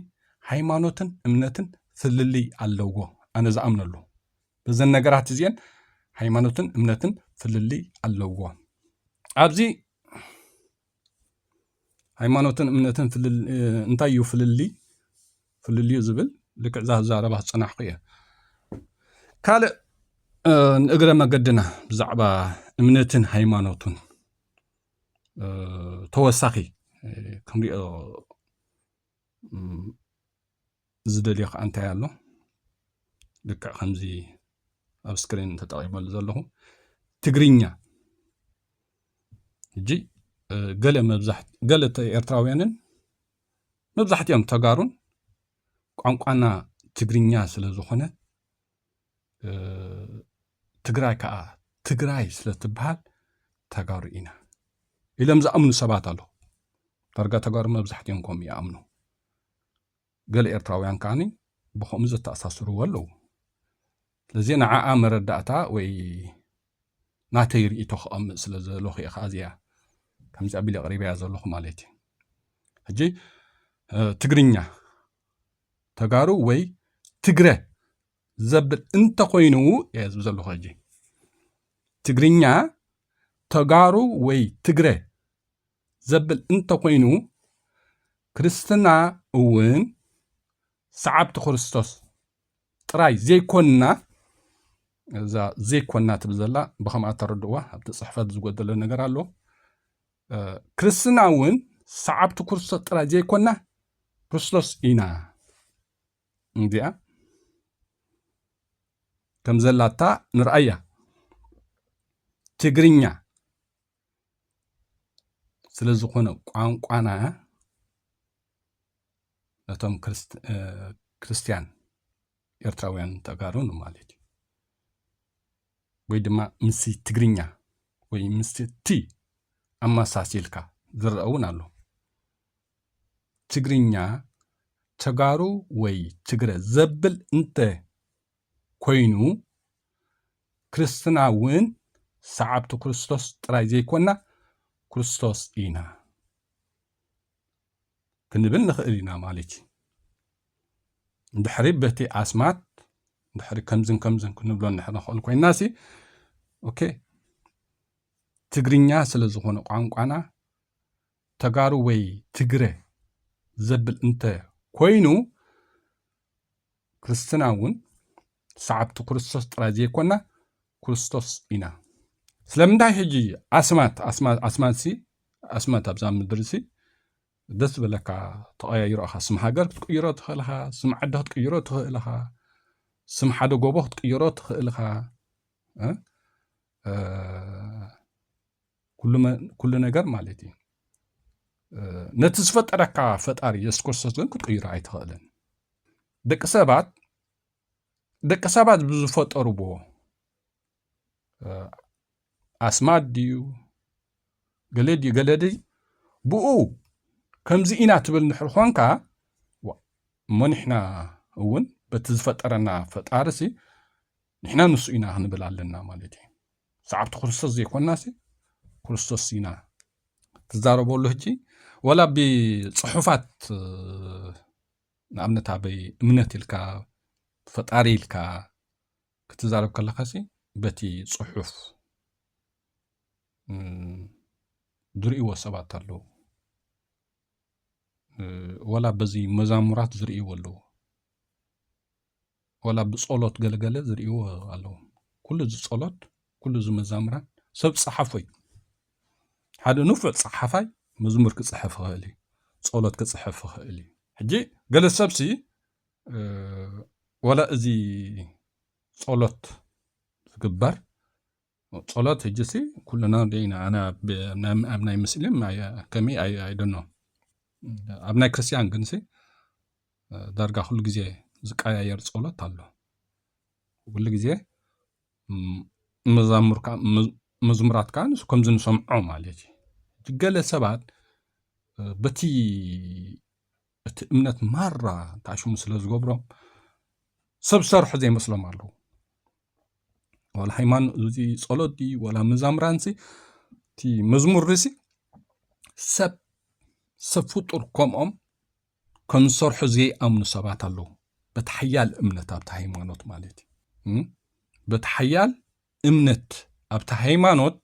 ሃይማኖትን እምነትን ፍልልይ ኣለዎ ኣነ ዝኣምነሉ በዘን ነገራት እዚኤን ሃይማኖትን እምነትን ፍልልይ ኣለዎ ኣብዚ ሃይማኖትን እምነትን እንታይ እዩ ፍልልይ ፍልልዩ ዝብል ልክዕ እዛ ዛረባ ዝፀናሕኩ እየ ካልእ ንእግረ መገድና ብዛዕባ እምነትን ሃይማኖቱን ተወሳኺ ክንሪኦ ዝደልዮ ከዓ እንታይ ኣሎ ልክዕ ከምዚ ኣብ ስክሪን ተጠቂመሉ ዘለኹ ትግርኛ ሕጂ ገለ መብዛሕ ገለ ኤርትራውያንን መብዛሕትኦም ተጋሩን ቋንቋና ትግርኛ ስለ ዝኾነ ትግራይ ከዓ ትግራይ ስለ ትበሃል ተጋሩ ኢና ኢሎም ዝኣምኑ ሰባት ኣለዉ ዳርጋ ተጋሩ መብዛሕትኦም ከምኡ ይኣምኑ ገለ ኤርትራውያን ከኣ ብኸምኡ ዘተኣሳስርዎ ኣለዉ። ስለዚ ንዓኣ መረዳእታ ወይ ናተይ ርእይቶ ከቐምጥ ስለ ዝደለኹ እየ ከኣ እዚኣ ከምዚ ኣቢለ ኣቕሪበያ ዘለኹ ማለት እዩ። ሕጂ ትግርኛ ተጋሩ ወይ ትግረ ዘብል እንተኾይኑ እየ ዝብ ዘለኹ ሕጂ ትግርኛ ተጋሩ ወይ ትግረ ዘብል እንተኾይኑ ክርስትና እውን ሰዓብቲ ክርስቶስ ጥራይ ዘይኮንና እዛ ዘይኮንና ትብል ዘላ ብከምኣ ተረድዋ ኣብቲ ፅሕፈት ዝጎደለ ነገር ኣሎ ክርስትና እውን ሰዓብቲ ክርስቶስ ጥራይ ዘይኮንና ክርስቶስ ኢና እንዲያ ከም ዘላታ ንርኣያ ትግርኛ ስለ ዝኾነ ቋንቋና ነቶም ክርስትያን ኤርትራውያን ተጋሩ ማለት እዩ ወይ ድማ ምስ ትግርኛ ወይ ምስ ቲ ኣመሳሲልካ ዝረአ እውን ኣሎ ትግርኛ ተጋሩ ወይ ትግረ ዘብል እንተ ኮይኑ ክርስትና እውን ሰዓብቲ ክርስቶስ ጥራይ ዘይኮና ክርስቶስ ኢና ክንብል ንኽእል ኢና ማለት እዩ እንድሕሪ በቲ ኣስማት እንድሕሪ ከምዝን ከምዝን ክንብሎ እንድሕሪ ንኽእል ኮይና ሲ ኦኬ ትግርኛ ስለ ዝኾነ ቋንቋና ተጋሩ ወይ ትግረ ዘብል እንተ ኮይኑ ክርስትና እውን ሰዓብቲ ክርስቶስ ጥራይ ዘይኮና ክርስቶስ ኢና ስለምንታይ ሕጂ ኣስማት ኣስማትሲ ኣስማት ኣብዛ ምድርሲ ደስ ዝበለካ ተቐያይሮ ኢኻ ስም ሃገር ክትቅይሮ ትኽእል ኢኻ ስም ዓዲ ክትቅይሮ ትኽእል ኢኻ ስም ሓደ ጎቦ ክትቅይሮ ትኽእል ኢኻ ኩሉ ነገር ማለት እዩ ነቲ ዝፈጠረካ ፈጣሪ የሱስ ክርስቶስ ግን ክትቅይሮ ኣይትኽእልን ደቂ ሰባት ደቂ ሰባት ብዝፈጠርዎ ኣስማት ድዩ ገለ ድዩ ገለ ድዩ ብኡ ከምዚ ኢና ትብል ንሕር ኾንካ እሞ ንሕና እውን በቲ ዝፈጠረና ፈጣሪ ሲ ንሕና ንሱ ኢና ክንብል ኣለና ማለት እዩ ሰዓብቲ ክርስቶስ ዘይኮናሲ ክርስቶስ ኢና ትዛረበሉ ህጂ ወላ ብፅሑፋት ንኣብነት ኣበይ እምነት ኢልካ ፈጣሪ ኢልካ ክትዛረብ ከለካ ሲ በቲ ፅሑፍ ዝርእይዎ ሰባት ኣለዉ ወላ በዚ መዛሙራት ዝርእይዎ ኣለዉ ዋላ ብጸሎት ገለገለ ዝርእይዎ ኣለዎም ኩሉ እዚ ጸሎት ኩሉ እዚ መዛምራን ሰብ ጸሓፎ እዩ ሓደ ንፉዕ ጸሓፋይ መዝሙር ክጽሕፍ ይኽእል እዩ ጸሎት ክጽሕፍ ይኽእል እዩ ሕጂ ገለ ሰብሲ ዋላ እዚ ጸሎት ዝግበር ጾሎት ህጂሲ ኩሉና ዲና ኣነ ኣብ ኣብ ናይ ምስሊም ከመይ ኣይደኖ ኣብ ናይ ክርስትያን ግንሲ ዳርጋ ኩሉ ግዜ ዝቀያየር ጾሎት ኣሎ ኩሉ ግዜ መዛሙር ከዓ መዝሙራት ከዓ ንሱ ከምዚ ንሰምዖ ማለት እዩ ገለ ሰባት በቲ እቲ እምነት ማራ ተኣሽሙ ስለ ዝገብሮም ሰብ ሰርሑ ዘይመስሎም ኣለዉ ዋላ ሃይማኖት እዚ ጸሎት ድዩ ዋላ መዛምራንሲ እቲ መዝሙር ርእሲ ሰብ ሰብ ፍጡር ከምኦም ከም ዝሰርሑ ዘይኣምኑ ሰባት ኣለዉ በቲ ሓያል እምነት ኣብቲ ሃይማኖት ማለት እዩ በቲ ሓያል እምነት ኣብቲ ሃይማኖት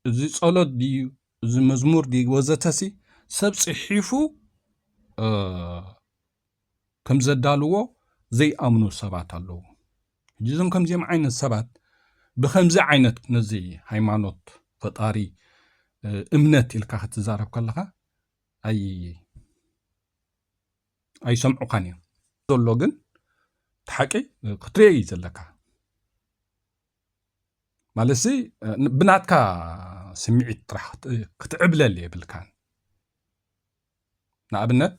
እዚ ጸሎት ድዩ እዚ መዝሙር ድዩ ወዘተሲ ሰብ ጽሒፉ ከም ዘዳልዎ ዘይኣምኑ ሰባት ኣለዉ ሕጂ እዞም ከምዚኦም ዓይነት ሰባት ብከምዚ ዓይነት ነዚ ሃይማኖት ፈጣሪ እምነት ኢልካ ክትዛረብ ከለኻ ኣይ ኣይሰምዑኻን እዮም ዘሎ ግን እቲ ሓቂ ክትሪኦ እዩ ዘለካ ማለት ሲ ብናትካ ስምዒት ጥራሕ ክትዕብለል የብልካን ንኣብነት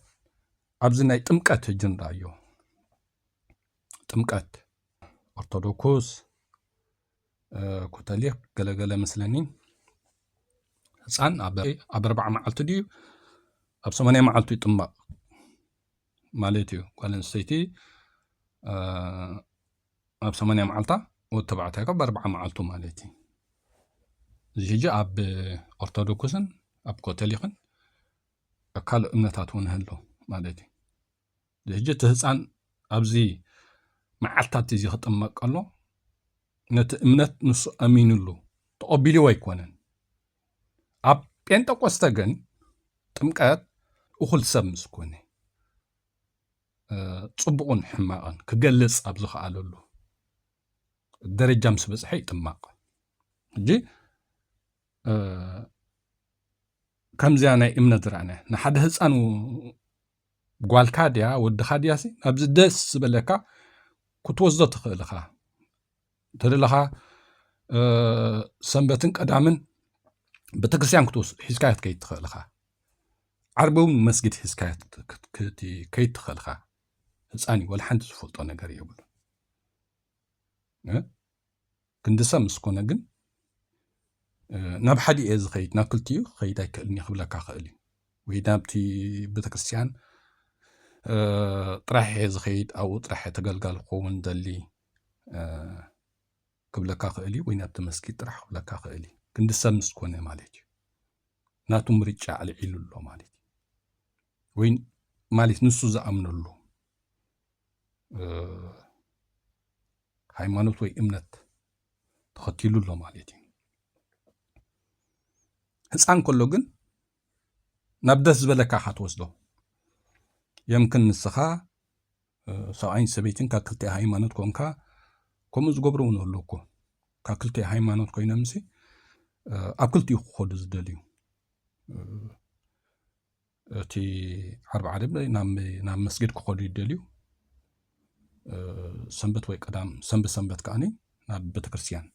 ኣብዚ ናይ ጥምቀት እጅ ንርኣዮ ጥምቀት ኦርቶዶክስ ኮተሊክ ገለገለ ምስለኒ ህፃን ኣብ ኣርባዓ መዓልቱ ድዩ ኣብ ሰማንያ መዓልቱ ይጥመቕ ማለት እዩ ጓል ኣንስተይቲ ኣብ ሰማንያ መዓልታ ወዲ ተባዕታይ ካብ ኣርብዓ መዓልቱ ማለት እዩ እዚ ሕጂ ኣብ ኦርቶዶክስን ኣብ ኮተሊክን ኣብ ካልእ እምነታት እውን ህሎ ማለት እዩ እዚ ሕጂ እቲ ህፃን ኣብዚ መዓልታት እዚ ክጥመቅ ከሎ ነቲ እምነት ንሱ ኣሚንሉ ተቐቢልዎ ኣይኮነን ኣብ ጴንጠቆስተ ግን ጥምቀት እኹል ሰብ ምስ ኮነ ጽቡቕን ሕማቕን ክገልጽ ኣብ ዝኸኣለሉ ደረጃ ምስ በጽሐ ይጥማቕ እንጂ ከምዚያ ናይ እምነት ዝረኣና ንሓደ ህፃን ጓልካ ድያ ወድኻ ድያሲ ኣብዚ ደስ ዝበለካ ክትወስዶ ትኽእል ኢኻ እንተደለኻ ሰንበትን ቀዳምን ቤተክርስትያን ሒዝካ ክትከይድ ትኽእል ኢኻ ዓርቢ እውን መስጊድ ሒዝካ ክትከይድ ትኽእል ኢኻ ህፃን እዩ ወላ ሓንቲ ዝፈልጦ ነገር የብሉ ክንዲ ሰብ ምስ ኮነ ግን ናብ ሓደ እየ ዝኸይድ ናብ ክልቲኡ ክኸይድ ኣይክእልን እዩ ክብለካ ክእል እዩ ወይ ናብቲ ቤተክርስትያን ጥራሕ እየ ዝኸይድ ኣብኡ ጥራሕ ተገልጋሊ ክኸውን ደሊ ክብለካ ክእል እዩ ወይ ናብ ተመስጊድ ጥራሕ ክብለካ ክእል እዩ ክንዲ ሰብ ምስ ኮነ ማለት እዩ ናቱ ምርጫ ኣልዒሉ ኣሎ ማለት እዩ ወይ ማለት ንሱ ዝኣምነሉ ሃይማኖት ወይ እምነት ተኸቲሉ ኣሎ ማለት እዩ ህፃን ከሎ ግን ናብ ደስ ዝበለካ ኢኻ ትወስዶ የምክን ንስኻ ሰብኣይን ሰበይትን ካብ ክልቲኣ ሃይማኖት ኮንካ ከምኡ ዝገብሩ እውን ኣሎ እኮ ካብ ክልቲኣ ሃይማኖት ኮይኖምሲ ኣብ ክልቲኡ ክኸዱ ዝደልዩ እቲ ዓርቢ ዓደብ ናብ መስጊድ ክኸዱ ይደልዩ ሰንበት ወይ ቀዳም ሰንበት ሰንበት ከዓኒ ናብ ቤተክርስትያን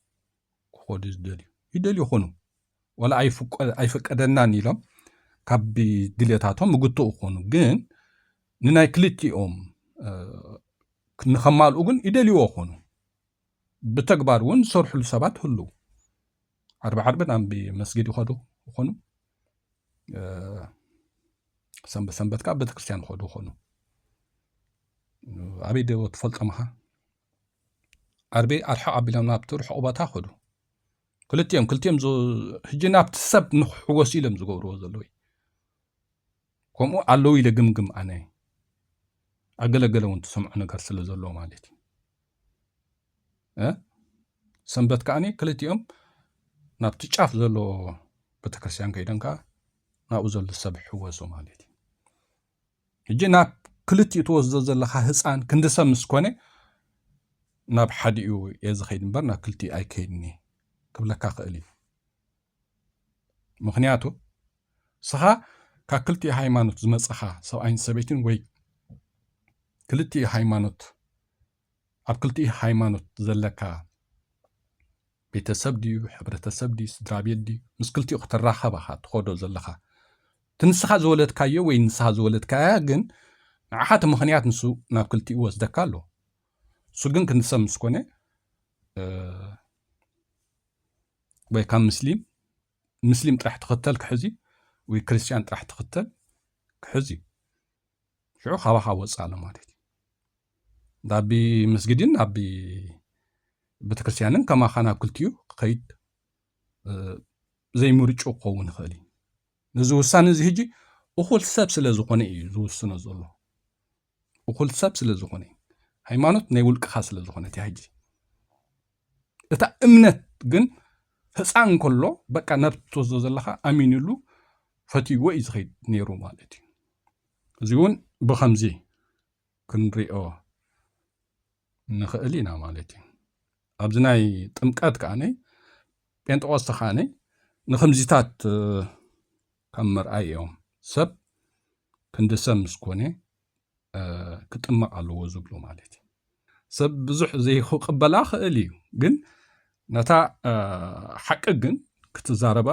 ክኸዱ ዝደልዩ ይደልዩ ይኹኑ ወላ ኣይፈቀደናን ኢሎም ካብ ድልታቶም ምግትኡ ክኾኑ ግን ንናይ ክልቲኦም ንኸማልኡ ግን ይደልይዎ ክኾኑ ብተግባር እውን ዝሰርሕሉ ሰባት ህሉ ዓርቢ ዓርቢ ናብ መስጊድ ይኸዱ ይኾኑ ሰንበት ሰንበት ከዓ ቤተክርስትያን ይኸዱ ይኾኑ ኣበይ ዶ ትፈልጦምኻ ዓርቢ ኣርሕቕ ኣቢሎም ናብቲ ርሑቕ ቦታ ከዱ ክልቲኦም ክልቲኦም ሕጂ ናብቲ ሰብ ንክሕወሱ ኢሎም ዝገብርዎ ዘለዉ ከምኡ ኣለዉ ኢለ ግምግም ኣነ ኣገለገለ እውን ትሰምዖ ነገር ስለ ዘለዎ ማለት እዩ ሰንበት ከዓኒ ክልቲኦም ናብቲ ጫፍ ዘለዎ ቤተክርስትያን ከይዶም ከዓ ናብኡ ዘሎ ሰብ ሕወሱ ማለት እዩ ሕጂ ናብ ክልቲኡ ትወስዶ ዘለኻ ህጻን ክንዲ ሰብ ምስ ኮነ ናብ ሓዲኡ እየ ዝኸይድ እምበር ናብ ክልቲኡ ኣይከይድን እየ ክብለካ ክእል እዩ ምክንያቱ ስኻ ካብ ክልቲኡ ሃይማኖት ዝመጽኻ ሰብኣይን ሰበይትን ወይ ክልቲኡ ሃይማኖት ኣብ ክልቲኡ ሃይማኖት ዘለካ ቤተሰብ ድዩ ሕብረተሰብ ድዩ ስድራቤት ድዩ ምስ ክልቲኡ ክትራኸብ ኢኻ ትኸዶ ዘለኻ እቲ ንስኻ ዝወለድካዮ ወይ ንስኻ ዝወለድካያ ግን ንዓኻ እቲ ምኽንያት ንሱ ናብ ክልቲኡ ይወስደካ ኣሎ እሱ ግን ክንዲ ሰብ ምስ ኮነ ወይ ካብ ምስሊም ምስሊም ጥራሕ ትኽተል ክሕዝ እዩ ወይ ክርስትያን ጥራሕ ትኽተል ክሕዝ እዩ ሽዑ ካባኻ ወፅእ ኣሎ ማለት እዩ ናብ መስጊድን ናብ ቤተክርስትያንን ከማኻ ናብ ክልቲኡ ክኸይድ ዘይምርጩ ክኸውን ይኽእል እዩ ነዚ ውሳነ እዚ ህጂ እኹል ሰብ ስለ ዝኾነ እዩ ዝውስኖ ዘሎ እኹል ሰብ ስለ ዝኾነ እዩ ሃይማኖት ናይ ውልቅኻ ስለ ዝኾነት እያ ህጂ እታ እምነት ግን ህፃን እንከሎ በቃ ናብ ትወስዶ ዘለካ ኣሚንሉ ፈትይዎ እዩ ዝኸይድ ነይሩ ማለት እዩ እዚ እውን ብከምዚ ክንሪኦ ንኽእል ኢና ማለት እዩ ኣብዚ ናይ ጥምቀት ከዓነ ጴንጠቆስተ ከዓነ ንከምዚታት ካብ መርኣይ እዮም ሰብ ክንዲ ሰብ ምስ ኮነ ክጥመቕ ኣለዎ ዝብሉ ማለት እዩ ሰብ ብዙሕ ዘይክቕበላ ክእል እዩ ግን ነታ ሓቂ ግን ክትዛረባ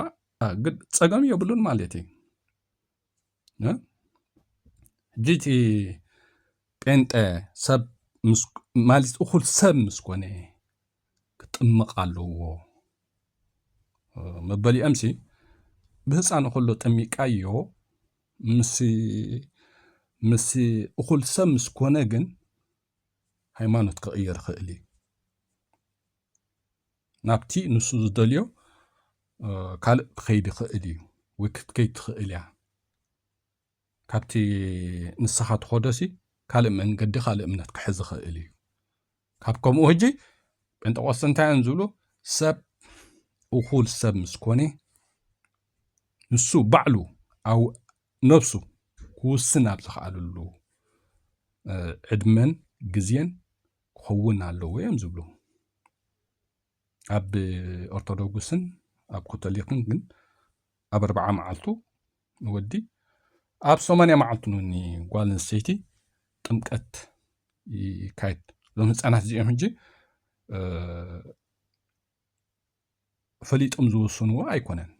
ግን ፀገም የብሉን ማለት እዩ ሕጂ እቲ ጴንጠ ሰብ ማለት እኹል ሰብ ምስ ኮነ ክጥምቕ ኣለዎ መበሊኦም ሲ ብህፃን ከሎ ጠሚቃዮ ምስ እኹል ሰብ ምስ ኮነ ግን ሃይማኖት ክቕየር ይኽእል እዩ ናብቲ ንሱ ዝደልዮ ካልእ ክኸይድ ይኽእል እዩ ወይ ክትከይድ ትኽእል እያ ካብቲ ንስኻ ትኸዶሲ ካልእ መንገዲ ካልእ እምነት ክሕዝ ይኽእል እዩ ካብ ከምኡ ህጂ ጴንጠቆስተ እንታይ እዮም ዝብሉ ሰብ እኹል ሰብ ምስ ኮነ ንሱ ባዕሉ ኣብ ነብሱ ክውስን ኣብ ዝኽኣለሉ ዕድመን ግዜን ክኸውን ኣለዎ እዮም ዝብሉ ኣብ ኦርቶዶክስን ኣብ ኮቶሊክን ግን ኣብ ኣርባዓ መዓልቱ ንወዲ ኣብ ሰማንያ መዓልቱ ንጓል ኣንስተይቲ ጥምቀት ይካየድ እዞም ህፃናት እዚኦም ሕጂ ፈሊጦም ዝወስንዎ ኣይኮነን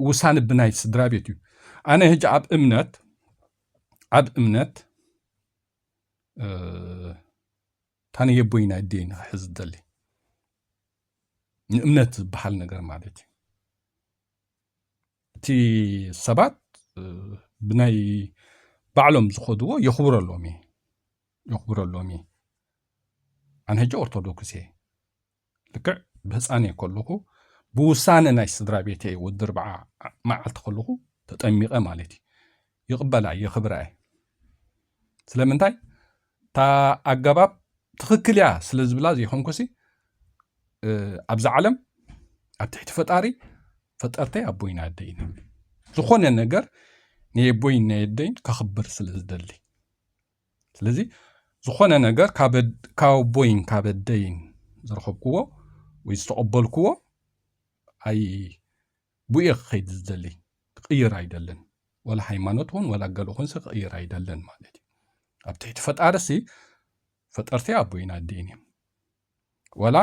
ውሳነ ብናይ ስድራ ቤት እዩ ኣነ ሕጂ ኣብ እምነት ኣብ እምነት ታነየቦይ ናይ ደይ ንክሕዝ ደሊ ንእምነት ዝበሃል ነገር ማለት እዩ እቲ ሰባት ብናይ ባዕሎም ዝኸድዎ የኽብረሎም እየ የኽብረሎም እየ ኣነ ሕጂ ኦርቶዶክስ እየ ልክዕ ብህፃን እየ ከለኹ ብውሳነ ናይ ስድራ ቤተ ወዲ ርብዓ መዓልቲ ከለኹ ተጠሚቐ ማለት እዩ ይቕበላ የኽብራ እየ ስለምንታይ እታ ኣገባብ ትኽክል እያ ስለ ዝብላ ዘይኮንኩሲ ኣብዛ ዓለም ኣብ ትሕቲ ፈጣሪ ፈጠርተይ ኣቦይን ኣደይን ዝኾነ ነገር ንየቦይን ነየደይን ከኽብር ስለ ዝደሊ ስለዚ ዝኾነ ነገር ካብ ኣቦይን ካብ ኣደይን ዝረኸብክዎ ወይ ዝተቐበልክዎ ኣይ ቡየ ክከይድ ዝደሊ ክቅይር ኣይደልን ዋላ ሃይማኖት ውን ዋላ ገለ ኩንሰ ክቅይር ኣይደልን ማለት እዩ ኣብ ትሕቲ ፈጣሪ ሲ ፈጠርቲ ኣቦይን ኣዴን እዮም ዋላ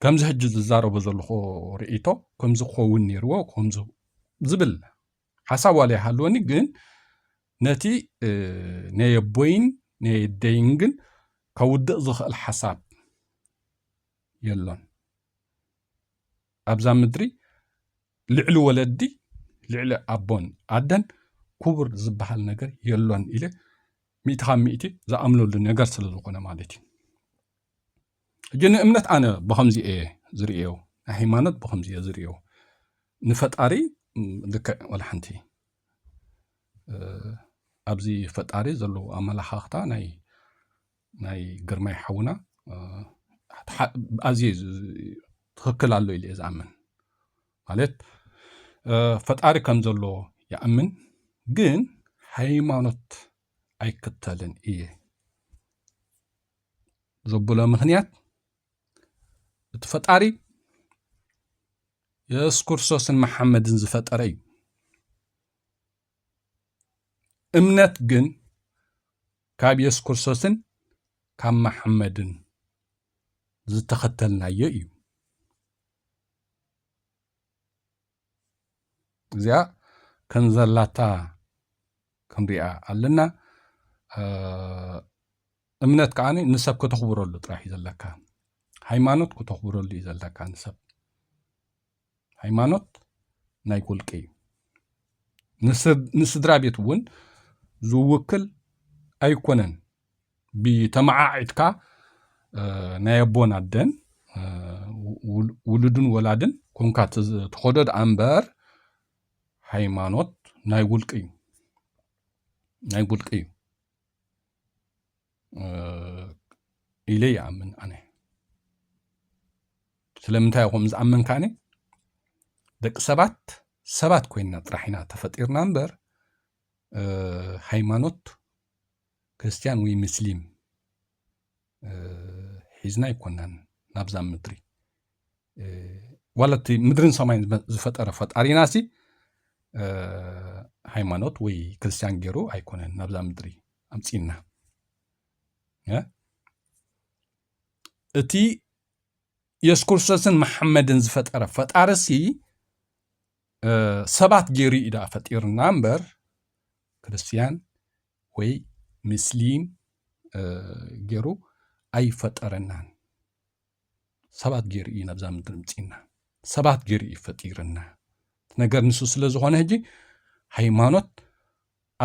ከምዚ ሕጂ ዝዛረቦ ዘለኹ ርእይቶ ከምዚ ክኸውን ነይርዎ ከምዚ ዝብል ሓሳብ ዋላ ይሃልወኒ ግን ነቲ ናይ ኣቦይን ናይ ኣደይን ግን ከውድቕ ዝኽእል ሓሳብ የሎን ኣብዛ ምድሪ ልዕሊ ወለዲ ልዕሊ ኣቦን ኣደን ኩቡር ዝባሃል ነገር የሎን ኢለ ሚእቲ ካብ ሚእቲ ዝኣምነሉ ነገር ስለ ዝኾነ ማለት እዩ ሕጂ ንእምነት ኣነ ብኸምዚ እየ ዝርእዮ ናይ ሃይማኖት ብኸምዚ እየ ዝርእዮ ንፈጣሪ ልክዕ ወላ ሓንቲ ኣብዚ ፈጣሪ ዘለዎ ኣመላኻኽታ ናይ ናይ ግርማይ ሓውና ኣዝየ ትኽክል ኣሎ ኢለ እየ ዝኣምን ማለት ፈጣሪ ከም ዘሎ ይኣምን ግን ሃይማኖት ኣይክተልን እየ ዘብሎ ምክንያት እቲ ፈጣሪ የሱስ ክርስቶስን መሓመድን ዝፈጠረ እዩ እምነት ግን ካብ የሱስ ክርስቶስን ካብ መሓመድን ዝተኸተልናዮ እዩ። እዚኣ ከም ዘላታ ክንሪኣ ኣለና። እምነት ከዓ ንሰብ ከተኽብረሉ ጥራሕ እዩ ዘለካ። ሃይማኖት ከተኽብረሉ እዩ ዘለካ ንሰብ ሃይማኖት ናይ ውልቂ እዩ ንስድራ ቤት እውን ዝውክል ኣይኮነን ብተመዓዒትካ ናይ ኣቦን ኣደን ውሉድን ወላድን ኮንካ ትኸዶ ደኣ እምበር ሃይማኖት ናይ ውልቂ እዩ ናይ ውልቂ እዩ ኢለ ይኣምን ኣነ ስለምንታይ ኹም ዝኣመንካኒ ደቂ ሰባት ሰባት ኮይንና ጥራሕ ኢና ተፈጢርና እምበር ሃይማኖት ክርስትያን ወይ ምስሊም ሒዝና ኣይኮናን ናብዛ ምድሪ ዋላ እቲ ምድርን ሰማይን ዝፈጠረ ፈጣሪና ሲ ሃይማኖት ወይ ክርስትያን ገይሩ ኣይኮነን ናብዛ ምድሪ ኣምፅና እቲ የሱስ ክርስቶስን መሓመድን ዝፈጠረ ፈጣሪ ሲ ሰባት ገይሩ እዩ ደኣ ፈጢርና እምበር ክርስትያን ወይ ምስሊም ገይሩ ኣይፈጠረናን ሰባት ገይሩ እዩ ናብዛ ምድሪ ምፅና ሰባት ገይሩ እዩ ፈጢርና ነገር ንሱ ስለ ዝኾነ ሕጂ ሃይማኖት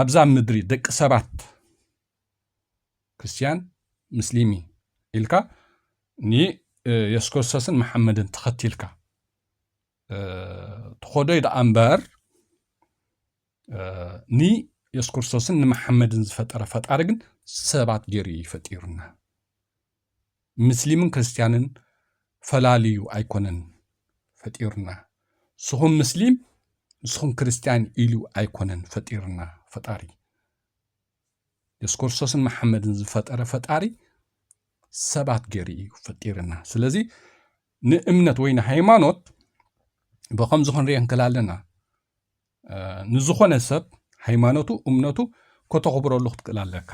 ኣብዛ ምድሪ ደቂ ሰባት ክርስትያን ምስሊሚ ኢልካ ንየሱስ ክርስቶስን መሓመድን ተኸቲልካ ትኾዶይ ደኣ እምበር ንየሱስ ክርስቶስን ንመሓመድን ዝፈጠረ ፈጣሪ ግን ሰባት ገይሩ እዩ ፈጢሩና ምስሊምን ክርስትያንን ፈላልዩ ኣይኮነን ፈጢሩና ንስኹም ምስሊም ንስኹም ክርስትያን ኢሉ ኣይኮነን ፈጢሩና ፈጣሪ የሱስ ክርስቶስን መሓመድን ዝፈጠረ ፈጣሪ ሰባት ገይሩ እዩ ፈጢርና ስለዚ ንእምነት ወይ ንሃይማኖት ብከምዚ ክንሪኦ ንክእል ኣለና ንዝኾነ ሰብ ሃይማኖቱ እምነቱ ከተኽብረሉ ክትክእል ኣለካ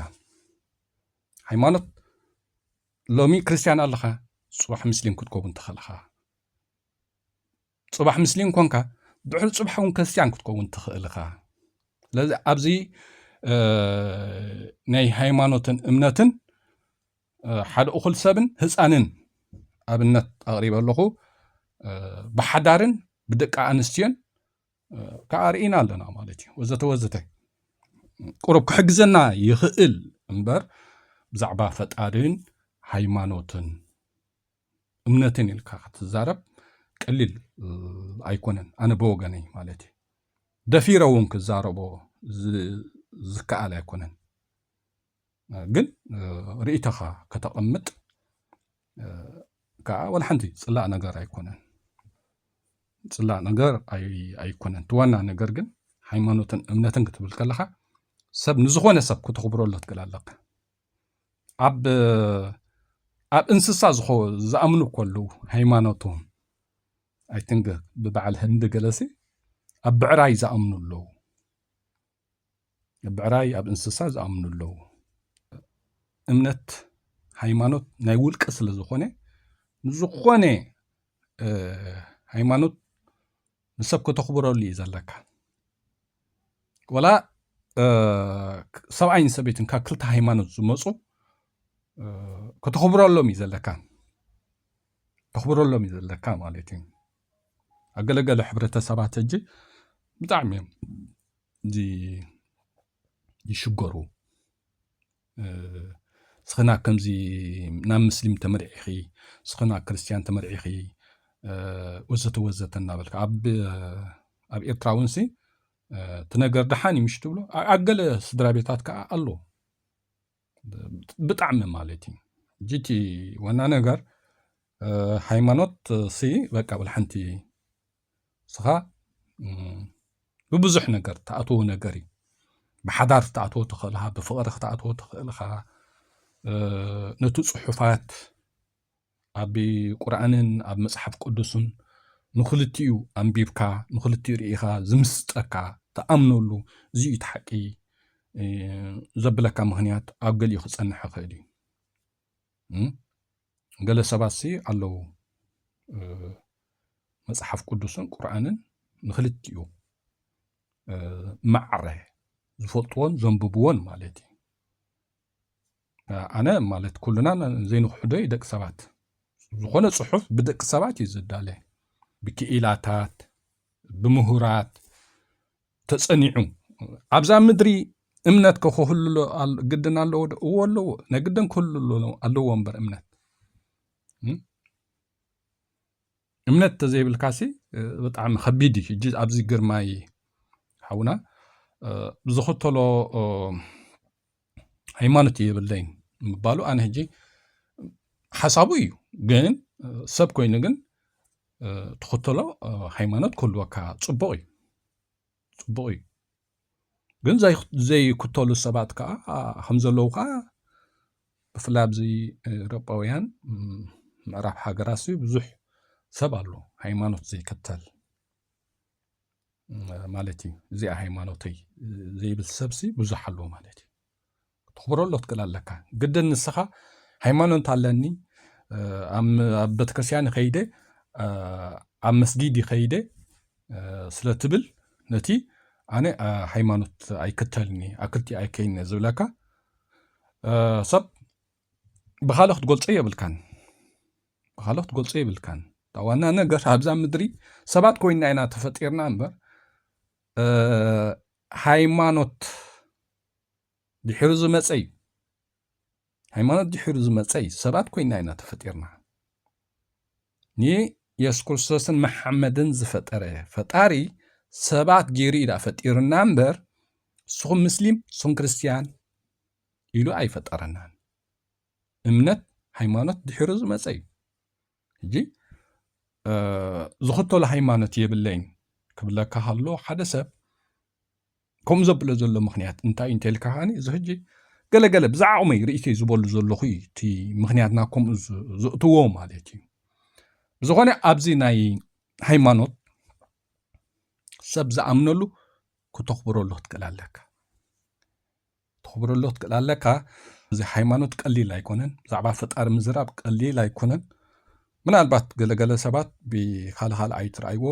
ሃይማኖት ሎሚ ክርስትያን ኣለኻ ፅባሕ ምስሊም ክትከውን ትኽእልኻ ፅባሕ ምስሊም ኮንካ ድሕሪ ፅባሕ እውን ክርስትያን ክትከውን ትኽእልኻ ስለዚ ኣብዚ ናይ ሃይማኖትን እምነትን ሓደ እኹል ሰብን ህፃንን ኣብነት ኣቕሪበ ኣለኹ ብሓዳርን ብደቂ ኣንስትዮን ከዓ ርኢና ኣለና ማለት እዩ ወዘተ ወዘተ ቁሩብ ክሕግዘና ይኽእል እምበር ብዛዕባ ፈጣሪን ሃይማኖትን እምነትን ኢልካ ክትዛረብ ቀሊል ኣይኮነን ኣነ ብወገነይ ማለት እዩ ደፊረ እውን ክዛረቦ ዝከኣል ኣይኮነን ግን ርእይቶኻ ከተቐምጥ ከዓ ወላሓንቲ ፅላእ ነገር ኣይኮነን ፅላእ ነገር ኣይኮነን እቲ ዋና ነገር ግን ሃይማኖትን እምነትን ክትብል ከለኻ ሰብ ንዝኾነ ሰብ ክትኽብረሉ ትክእል ኣለካ ኣብ ኣብ እንስሳ ዝኾ ዝኣምኑ ከሉ ሃይማኖቶም ኣይትንግ ብበዓል ህንዲ ገለሲ ኣብ ብዕራይ ዝኣምኑ ኣለዉ ብዕራይ ኣብ እንስሳ ዝኣምኑ ኣለዉ እምነት ሃይማኖት ናይ ውልቀ ስለ ዝኾነ ንዝኾነ ሃይማኖት ንሰብ ከተኽብረሉ እዩ ዘለካ ወላ ሰብኣይን ሰበይትን ካብ ክልተ ሃይማኖት ዝመፁ ከተኽብረሎም እዩ ዘለካ ተኽብረሎም እዩ ዘለካ ማለት እዩ ኣብ ገለገለ ሕብረተሰባት ሕጂ ብጣዕሚ እዮም እዚ ይሽገሩ ስኽና ከምዚ ናብ ምስሊም ተመርዒኺ ስኽና ክርስትያን ተመርዒኺ ወዘተ ወዘተ እናበልካ ኣብ ኤርትራ እውን ሲ እቲ ነገር ደሓን እዩ ምሽ ትብሎ ኣብ ገለ ስድራ ቤታት ከዓ ኣሎ ብጣዕሚ ማለት እዩ ጂቲ ዋና ነገር ሃይማኖት ሲ በቃ ብልሓንቲ ስኻ ብብዙሕ ነገር ተኣትዎ ነገር እዩ ብሓዳር ክትኣትዎ ትኽእል ብፍቕሪ ክትኣትዎ ትኽእል ኢኻ ነቲ ፅሑፋት ኣብ ቁርኣንን ኣብ መጽሓፍ ቅዱስን ንኽልቲኡ ኣንቢብካ ንኽልቲኡ ርኢኻ ዝምስጠካ ትኣምነሉ እዚ እዩ እቲ ሓቂ ዘብለካ ምኽንያት ኣብ ገሊኡ ክጸንሕ ይኽእል እዩ ገለ ሰባት ሲ ኣለዉ መጽሓፍ ቅዱስን ቁርኣንን ንኽልቲኡ ማዕረ ዝፈልጥዎን ዘንብብዎን ማለት እዩ ኣነ ማለት ኩልና ዘይንክሕዶ እዩ ደቂ ሰባት ዝኾነ ፅሑፍ ብደቂ ሰባት እዩ ዝዳለ ብክኢላታት ብምሁራት ተፀኒዑ ኣብዛ ምድሪ እምነት ከክህሉ ግድን ኣለዎ ዶ እዎ ኣለዎ ናይ ግድን ክህሉ ኣለዎ እምበር እምነት እምነት ተዘይብልካሲ ብጣዕሚ ከቢድ እዩ ሕጂ ኣብዚ ግርማይ ሓውና ዝኽተሎ ሃይማኖት የብለይን ምባሉ ኣነ ሕጂ ሓሳቡ እዩ ግን ሰብ ኮይኑ ግን ትኽተሎ ሃይማኖት ክህልወካ ፅቡቕ እዩ ፅቡቕ እዩ ግን ዘይክተሉ ሰባት ከዓ ከም ዘለዉ ከዓ ብፍላይ ኣብዚ ኤሮጳውያን ምዕራብ ሃገራት ብዙሕ ሰብ ኣሎ ሃይማኖት ዘይከተል ማለት እዩ እዚኣ ሃይማኖተይ ዘይብል ሰብሲ ብዙሕ ኣሎ ማለት እዩ ክትኽብሮ ኣሎ ትክእል ኣለካ ግድን ንስኻ ሃይማኖት ኣለኒ ኣብ ቤተክርስትያን ይኸይደ ኣብ መስጊድ ይኸይደ ስለ ትብል ነቲ ኣነ ሃይማኖት ኣይክተልኒ ኣብ ክልቲ ኣይከይነ ዝብለካ ሰብ ብካልእ ክትገልፀ የብልካን ብኻልኦ ክትገልጾ የብልካን። እታ ዋና ነገር ኣብዛ ምድሪ ሰባት ኮይና ኢና ተፈጢርና እምበር ሃይማኖት ድሕሪ ዝመፀ እዩ ሃይማኖት ድሕሪ ዝመፀ እዩ ሰባት ኮይና ኢና ተፈጢርና ንየሱስ ክርስቶስን መሓመድን ዝፈጠረ ፈጣሪ ሰባት ገይሩ እዩ ዳኣ ፈጢርና እምበር ንስኹም ምስሊም ንስኹም ክርስትያን ኢሉ ኣይፈጠረናን እምነት ሃይማኖት ድሕሪ ዝመፀ እዩ ሕጂ ዝኽተሎ ሃይማኖት የብለይን ክብለካ ሃሎ ሓደ ሰብ ከምኡ ዘብሎ ዘሎ ምክንያት እንታይ እዩ እንተልካ ከዓኒ እዚ ሕጂ ገለገለ ብዛዕቕመይ ርእይቶይ ዝበሉ ዘለኹ እዩ እቲ ምክንያትና ከምኡ ዝእትዎ ማለት እዩ ብዝኾነ ኣብዚ ናይ ሃይማኖት ሰብ ዝኣምነሉ ክተኽብረሉ ክትክእል ኣለካ ተኽብረሉ ክትክእል ኣለካ እዚ ሃይማኖት ቀሊል ኣይኮነን ብዛዕባ ፈጣሪ ምዝራብ ቀሊል ኣይኮነን ምናልባት ገለገለ ሰባት ብካልኻል ኣይትርኣይዎ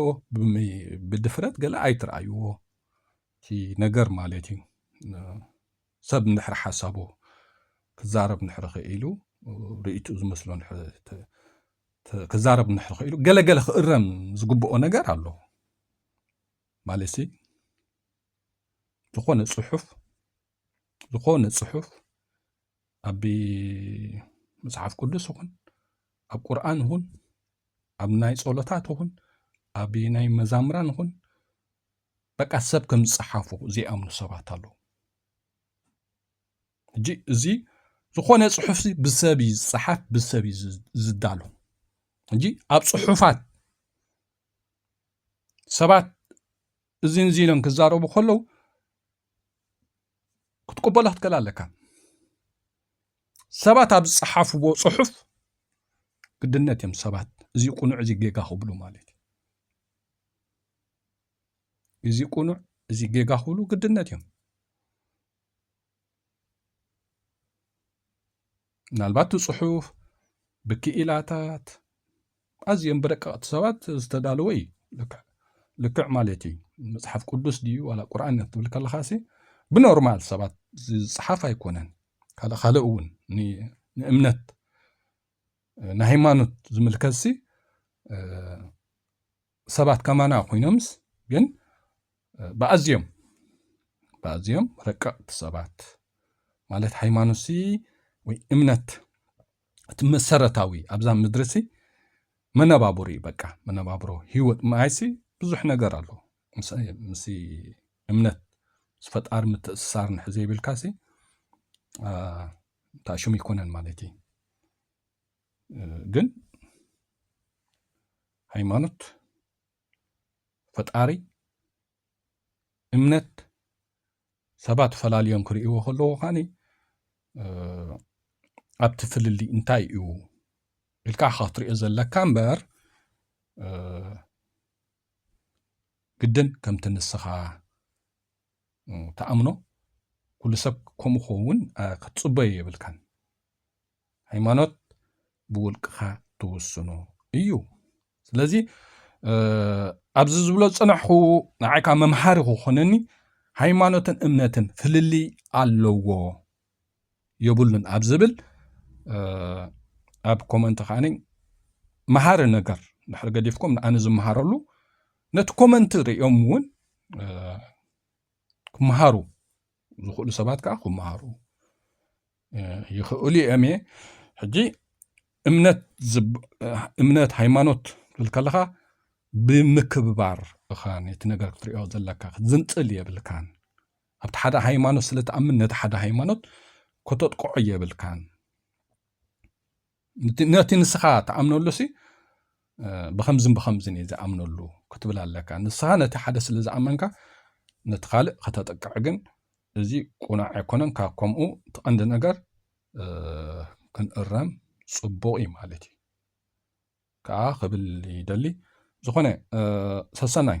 ብድፍረት ገለ ኣይትርኣይዎ እቲ ነገር ማለት እዩ ሰብ እንድሕር ሓሳቡ ክዛረብ ንሕሪ ክኢሉ ርእቱ ዝመስሎ ክዛረብ ንሕሪ ክኢሉ ገለገለ ክእረም ዝግብኦ ነገር ኣሎ ማለት ዝኾነ ፅሑፍ ዝኾነ ፅሑፍ ኣብ መፅሓፍ ቅዱስ ይኹን ኣብ ቁርኣን ይኹን ኣብ ናይ ጸሎታት ይኹን ኣብ ናይ መዛምራን ይኹን በቃ ሰብ ከም ዝፀሓፉ ዘይኣምኑ ሰባት ኣለዉ ሕጂ እዚ ዝኾነ ፅሑፍ ብሰብ እዩ ዝፀሓፍ ብሰብ እዩ ዝዳሎ ሕጂ ኣብ ፅሑፋት ሰባት እዚን እዚን ኢሎም ክዛረቡ ከለዉ ክትቅበሎ ክትክእል ኣለካ ሰባት ኣብ ዝፀሓፍዎ ፅሑፍ ግድነት እዮም ሰባት እዚ ቁኑዕ እዚ ጌጋ ክብሉ ማለት እዩ እዚ ቁኑዕ እዚ ጌጋ ክብሉ ግድነት እዮም ምናልባት እቲ ጽሑፍ ብክኢላታት ኣዝዮም ብረቀቕቲ ሰባት ዝተዳለወ እዩ ልክዕ ማለት እዩ መፅሓፍ ቅዱስ ድዩ ዋላ ቁርኣን ትብል ከለኻሲ ብኖርማል ሰባት ዝፅሓፍ ኣይኮነን ካልእ ካልእ እውን ንእምነት ንሃይማኖት ዝምልከትሲ ሰባት ከማና ኮይኖምስ ግን ብኣዝዮም ብኣዝዮም ረቀቕቲ ሰባት ማለት ሃይማኖትሲ ወይ እምነት እቲ መሰረታዊ ኣብዛ ምድሪሲ መነባብሮ እዩ በቃ መነባብሮ ህይወት ማይሲ ብዙሕ ነገር ኣሎ ምስ እምነት ምስ ፈጣሪ ምትእስሳር ንሕ ዘይብልካሲ እንታይ ሽሙ ይኮነን ማለት እዩ ግን ሃይማኖት፣ ፈጣሪ፣ እምነት ሰባት ፈላልዮም ክርእይዎ ከለዎ ከዓኒ ኣብቲ ፍልልይ እንታይ እዩ ኢልካ ኢኻ ክትሪኦ ዘለካ እምበር ግድን ከምቲ ንስኻ ተኣምኖ ኩሉ ሰብ ከምኡ ክኸውን ክትፅበዮ የብልካን ሃይማኖት ብውልቅኻ ትውስኖ እዩ ስለዚ ኣብዚ ዝብሎ ፅናሕኹ ንዓይካ መምሃሪ ክኾነኒ ሃይማኖትን እምነትን ፍልልይ ኣለዎ የብሉን ኣብ ዝብል ኣብ ኮመንት ከዓኒ መሃሪ ነገር ድሕሪ ገዲፍኩም ንኣነ ዝመሃረሉ ነቲ ኮመንት ርእዮም እውን ክመሃሩ ዝኽእሉ ሰባት ከዓ ክመሃሩ ይኸእሉ እም እየ ሕጂ እምነት ሃይማኖት ትብል ከለኻ ብምክብባር እኻ ነቲ ነገር ክትሪኦ ዘለካ ክትዝንፅል የብልካን ኣብቲ ሓደ ሃይማኖት ስለትኣምን ነቲ ሓደ ሃይማኖት ከተጥቅዖ የብልካን ነቲ ንስኻ ትኣምነሉሲ ብከምዝን ብከምዝን እየ ዝኣምነሉ ክትብል ኣለካ ንስኻ ነቲ ሓደ ስለ ዝኣመንካ ነቲ ካልእ ከተጥቅዕ ግን እዚ ቁኑዕ ኣይኮነን ካብ ከምኡ ትቐንዲ ነገር ክንእረም ፅቡቕ እዩ ማለት እዩ ከዓ ክብል ይደሊ ዝኾነ ሰሰናይ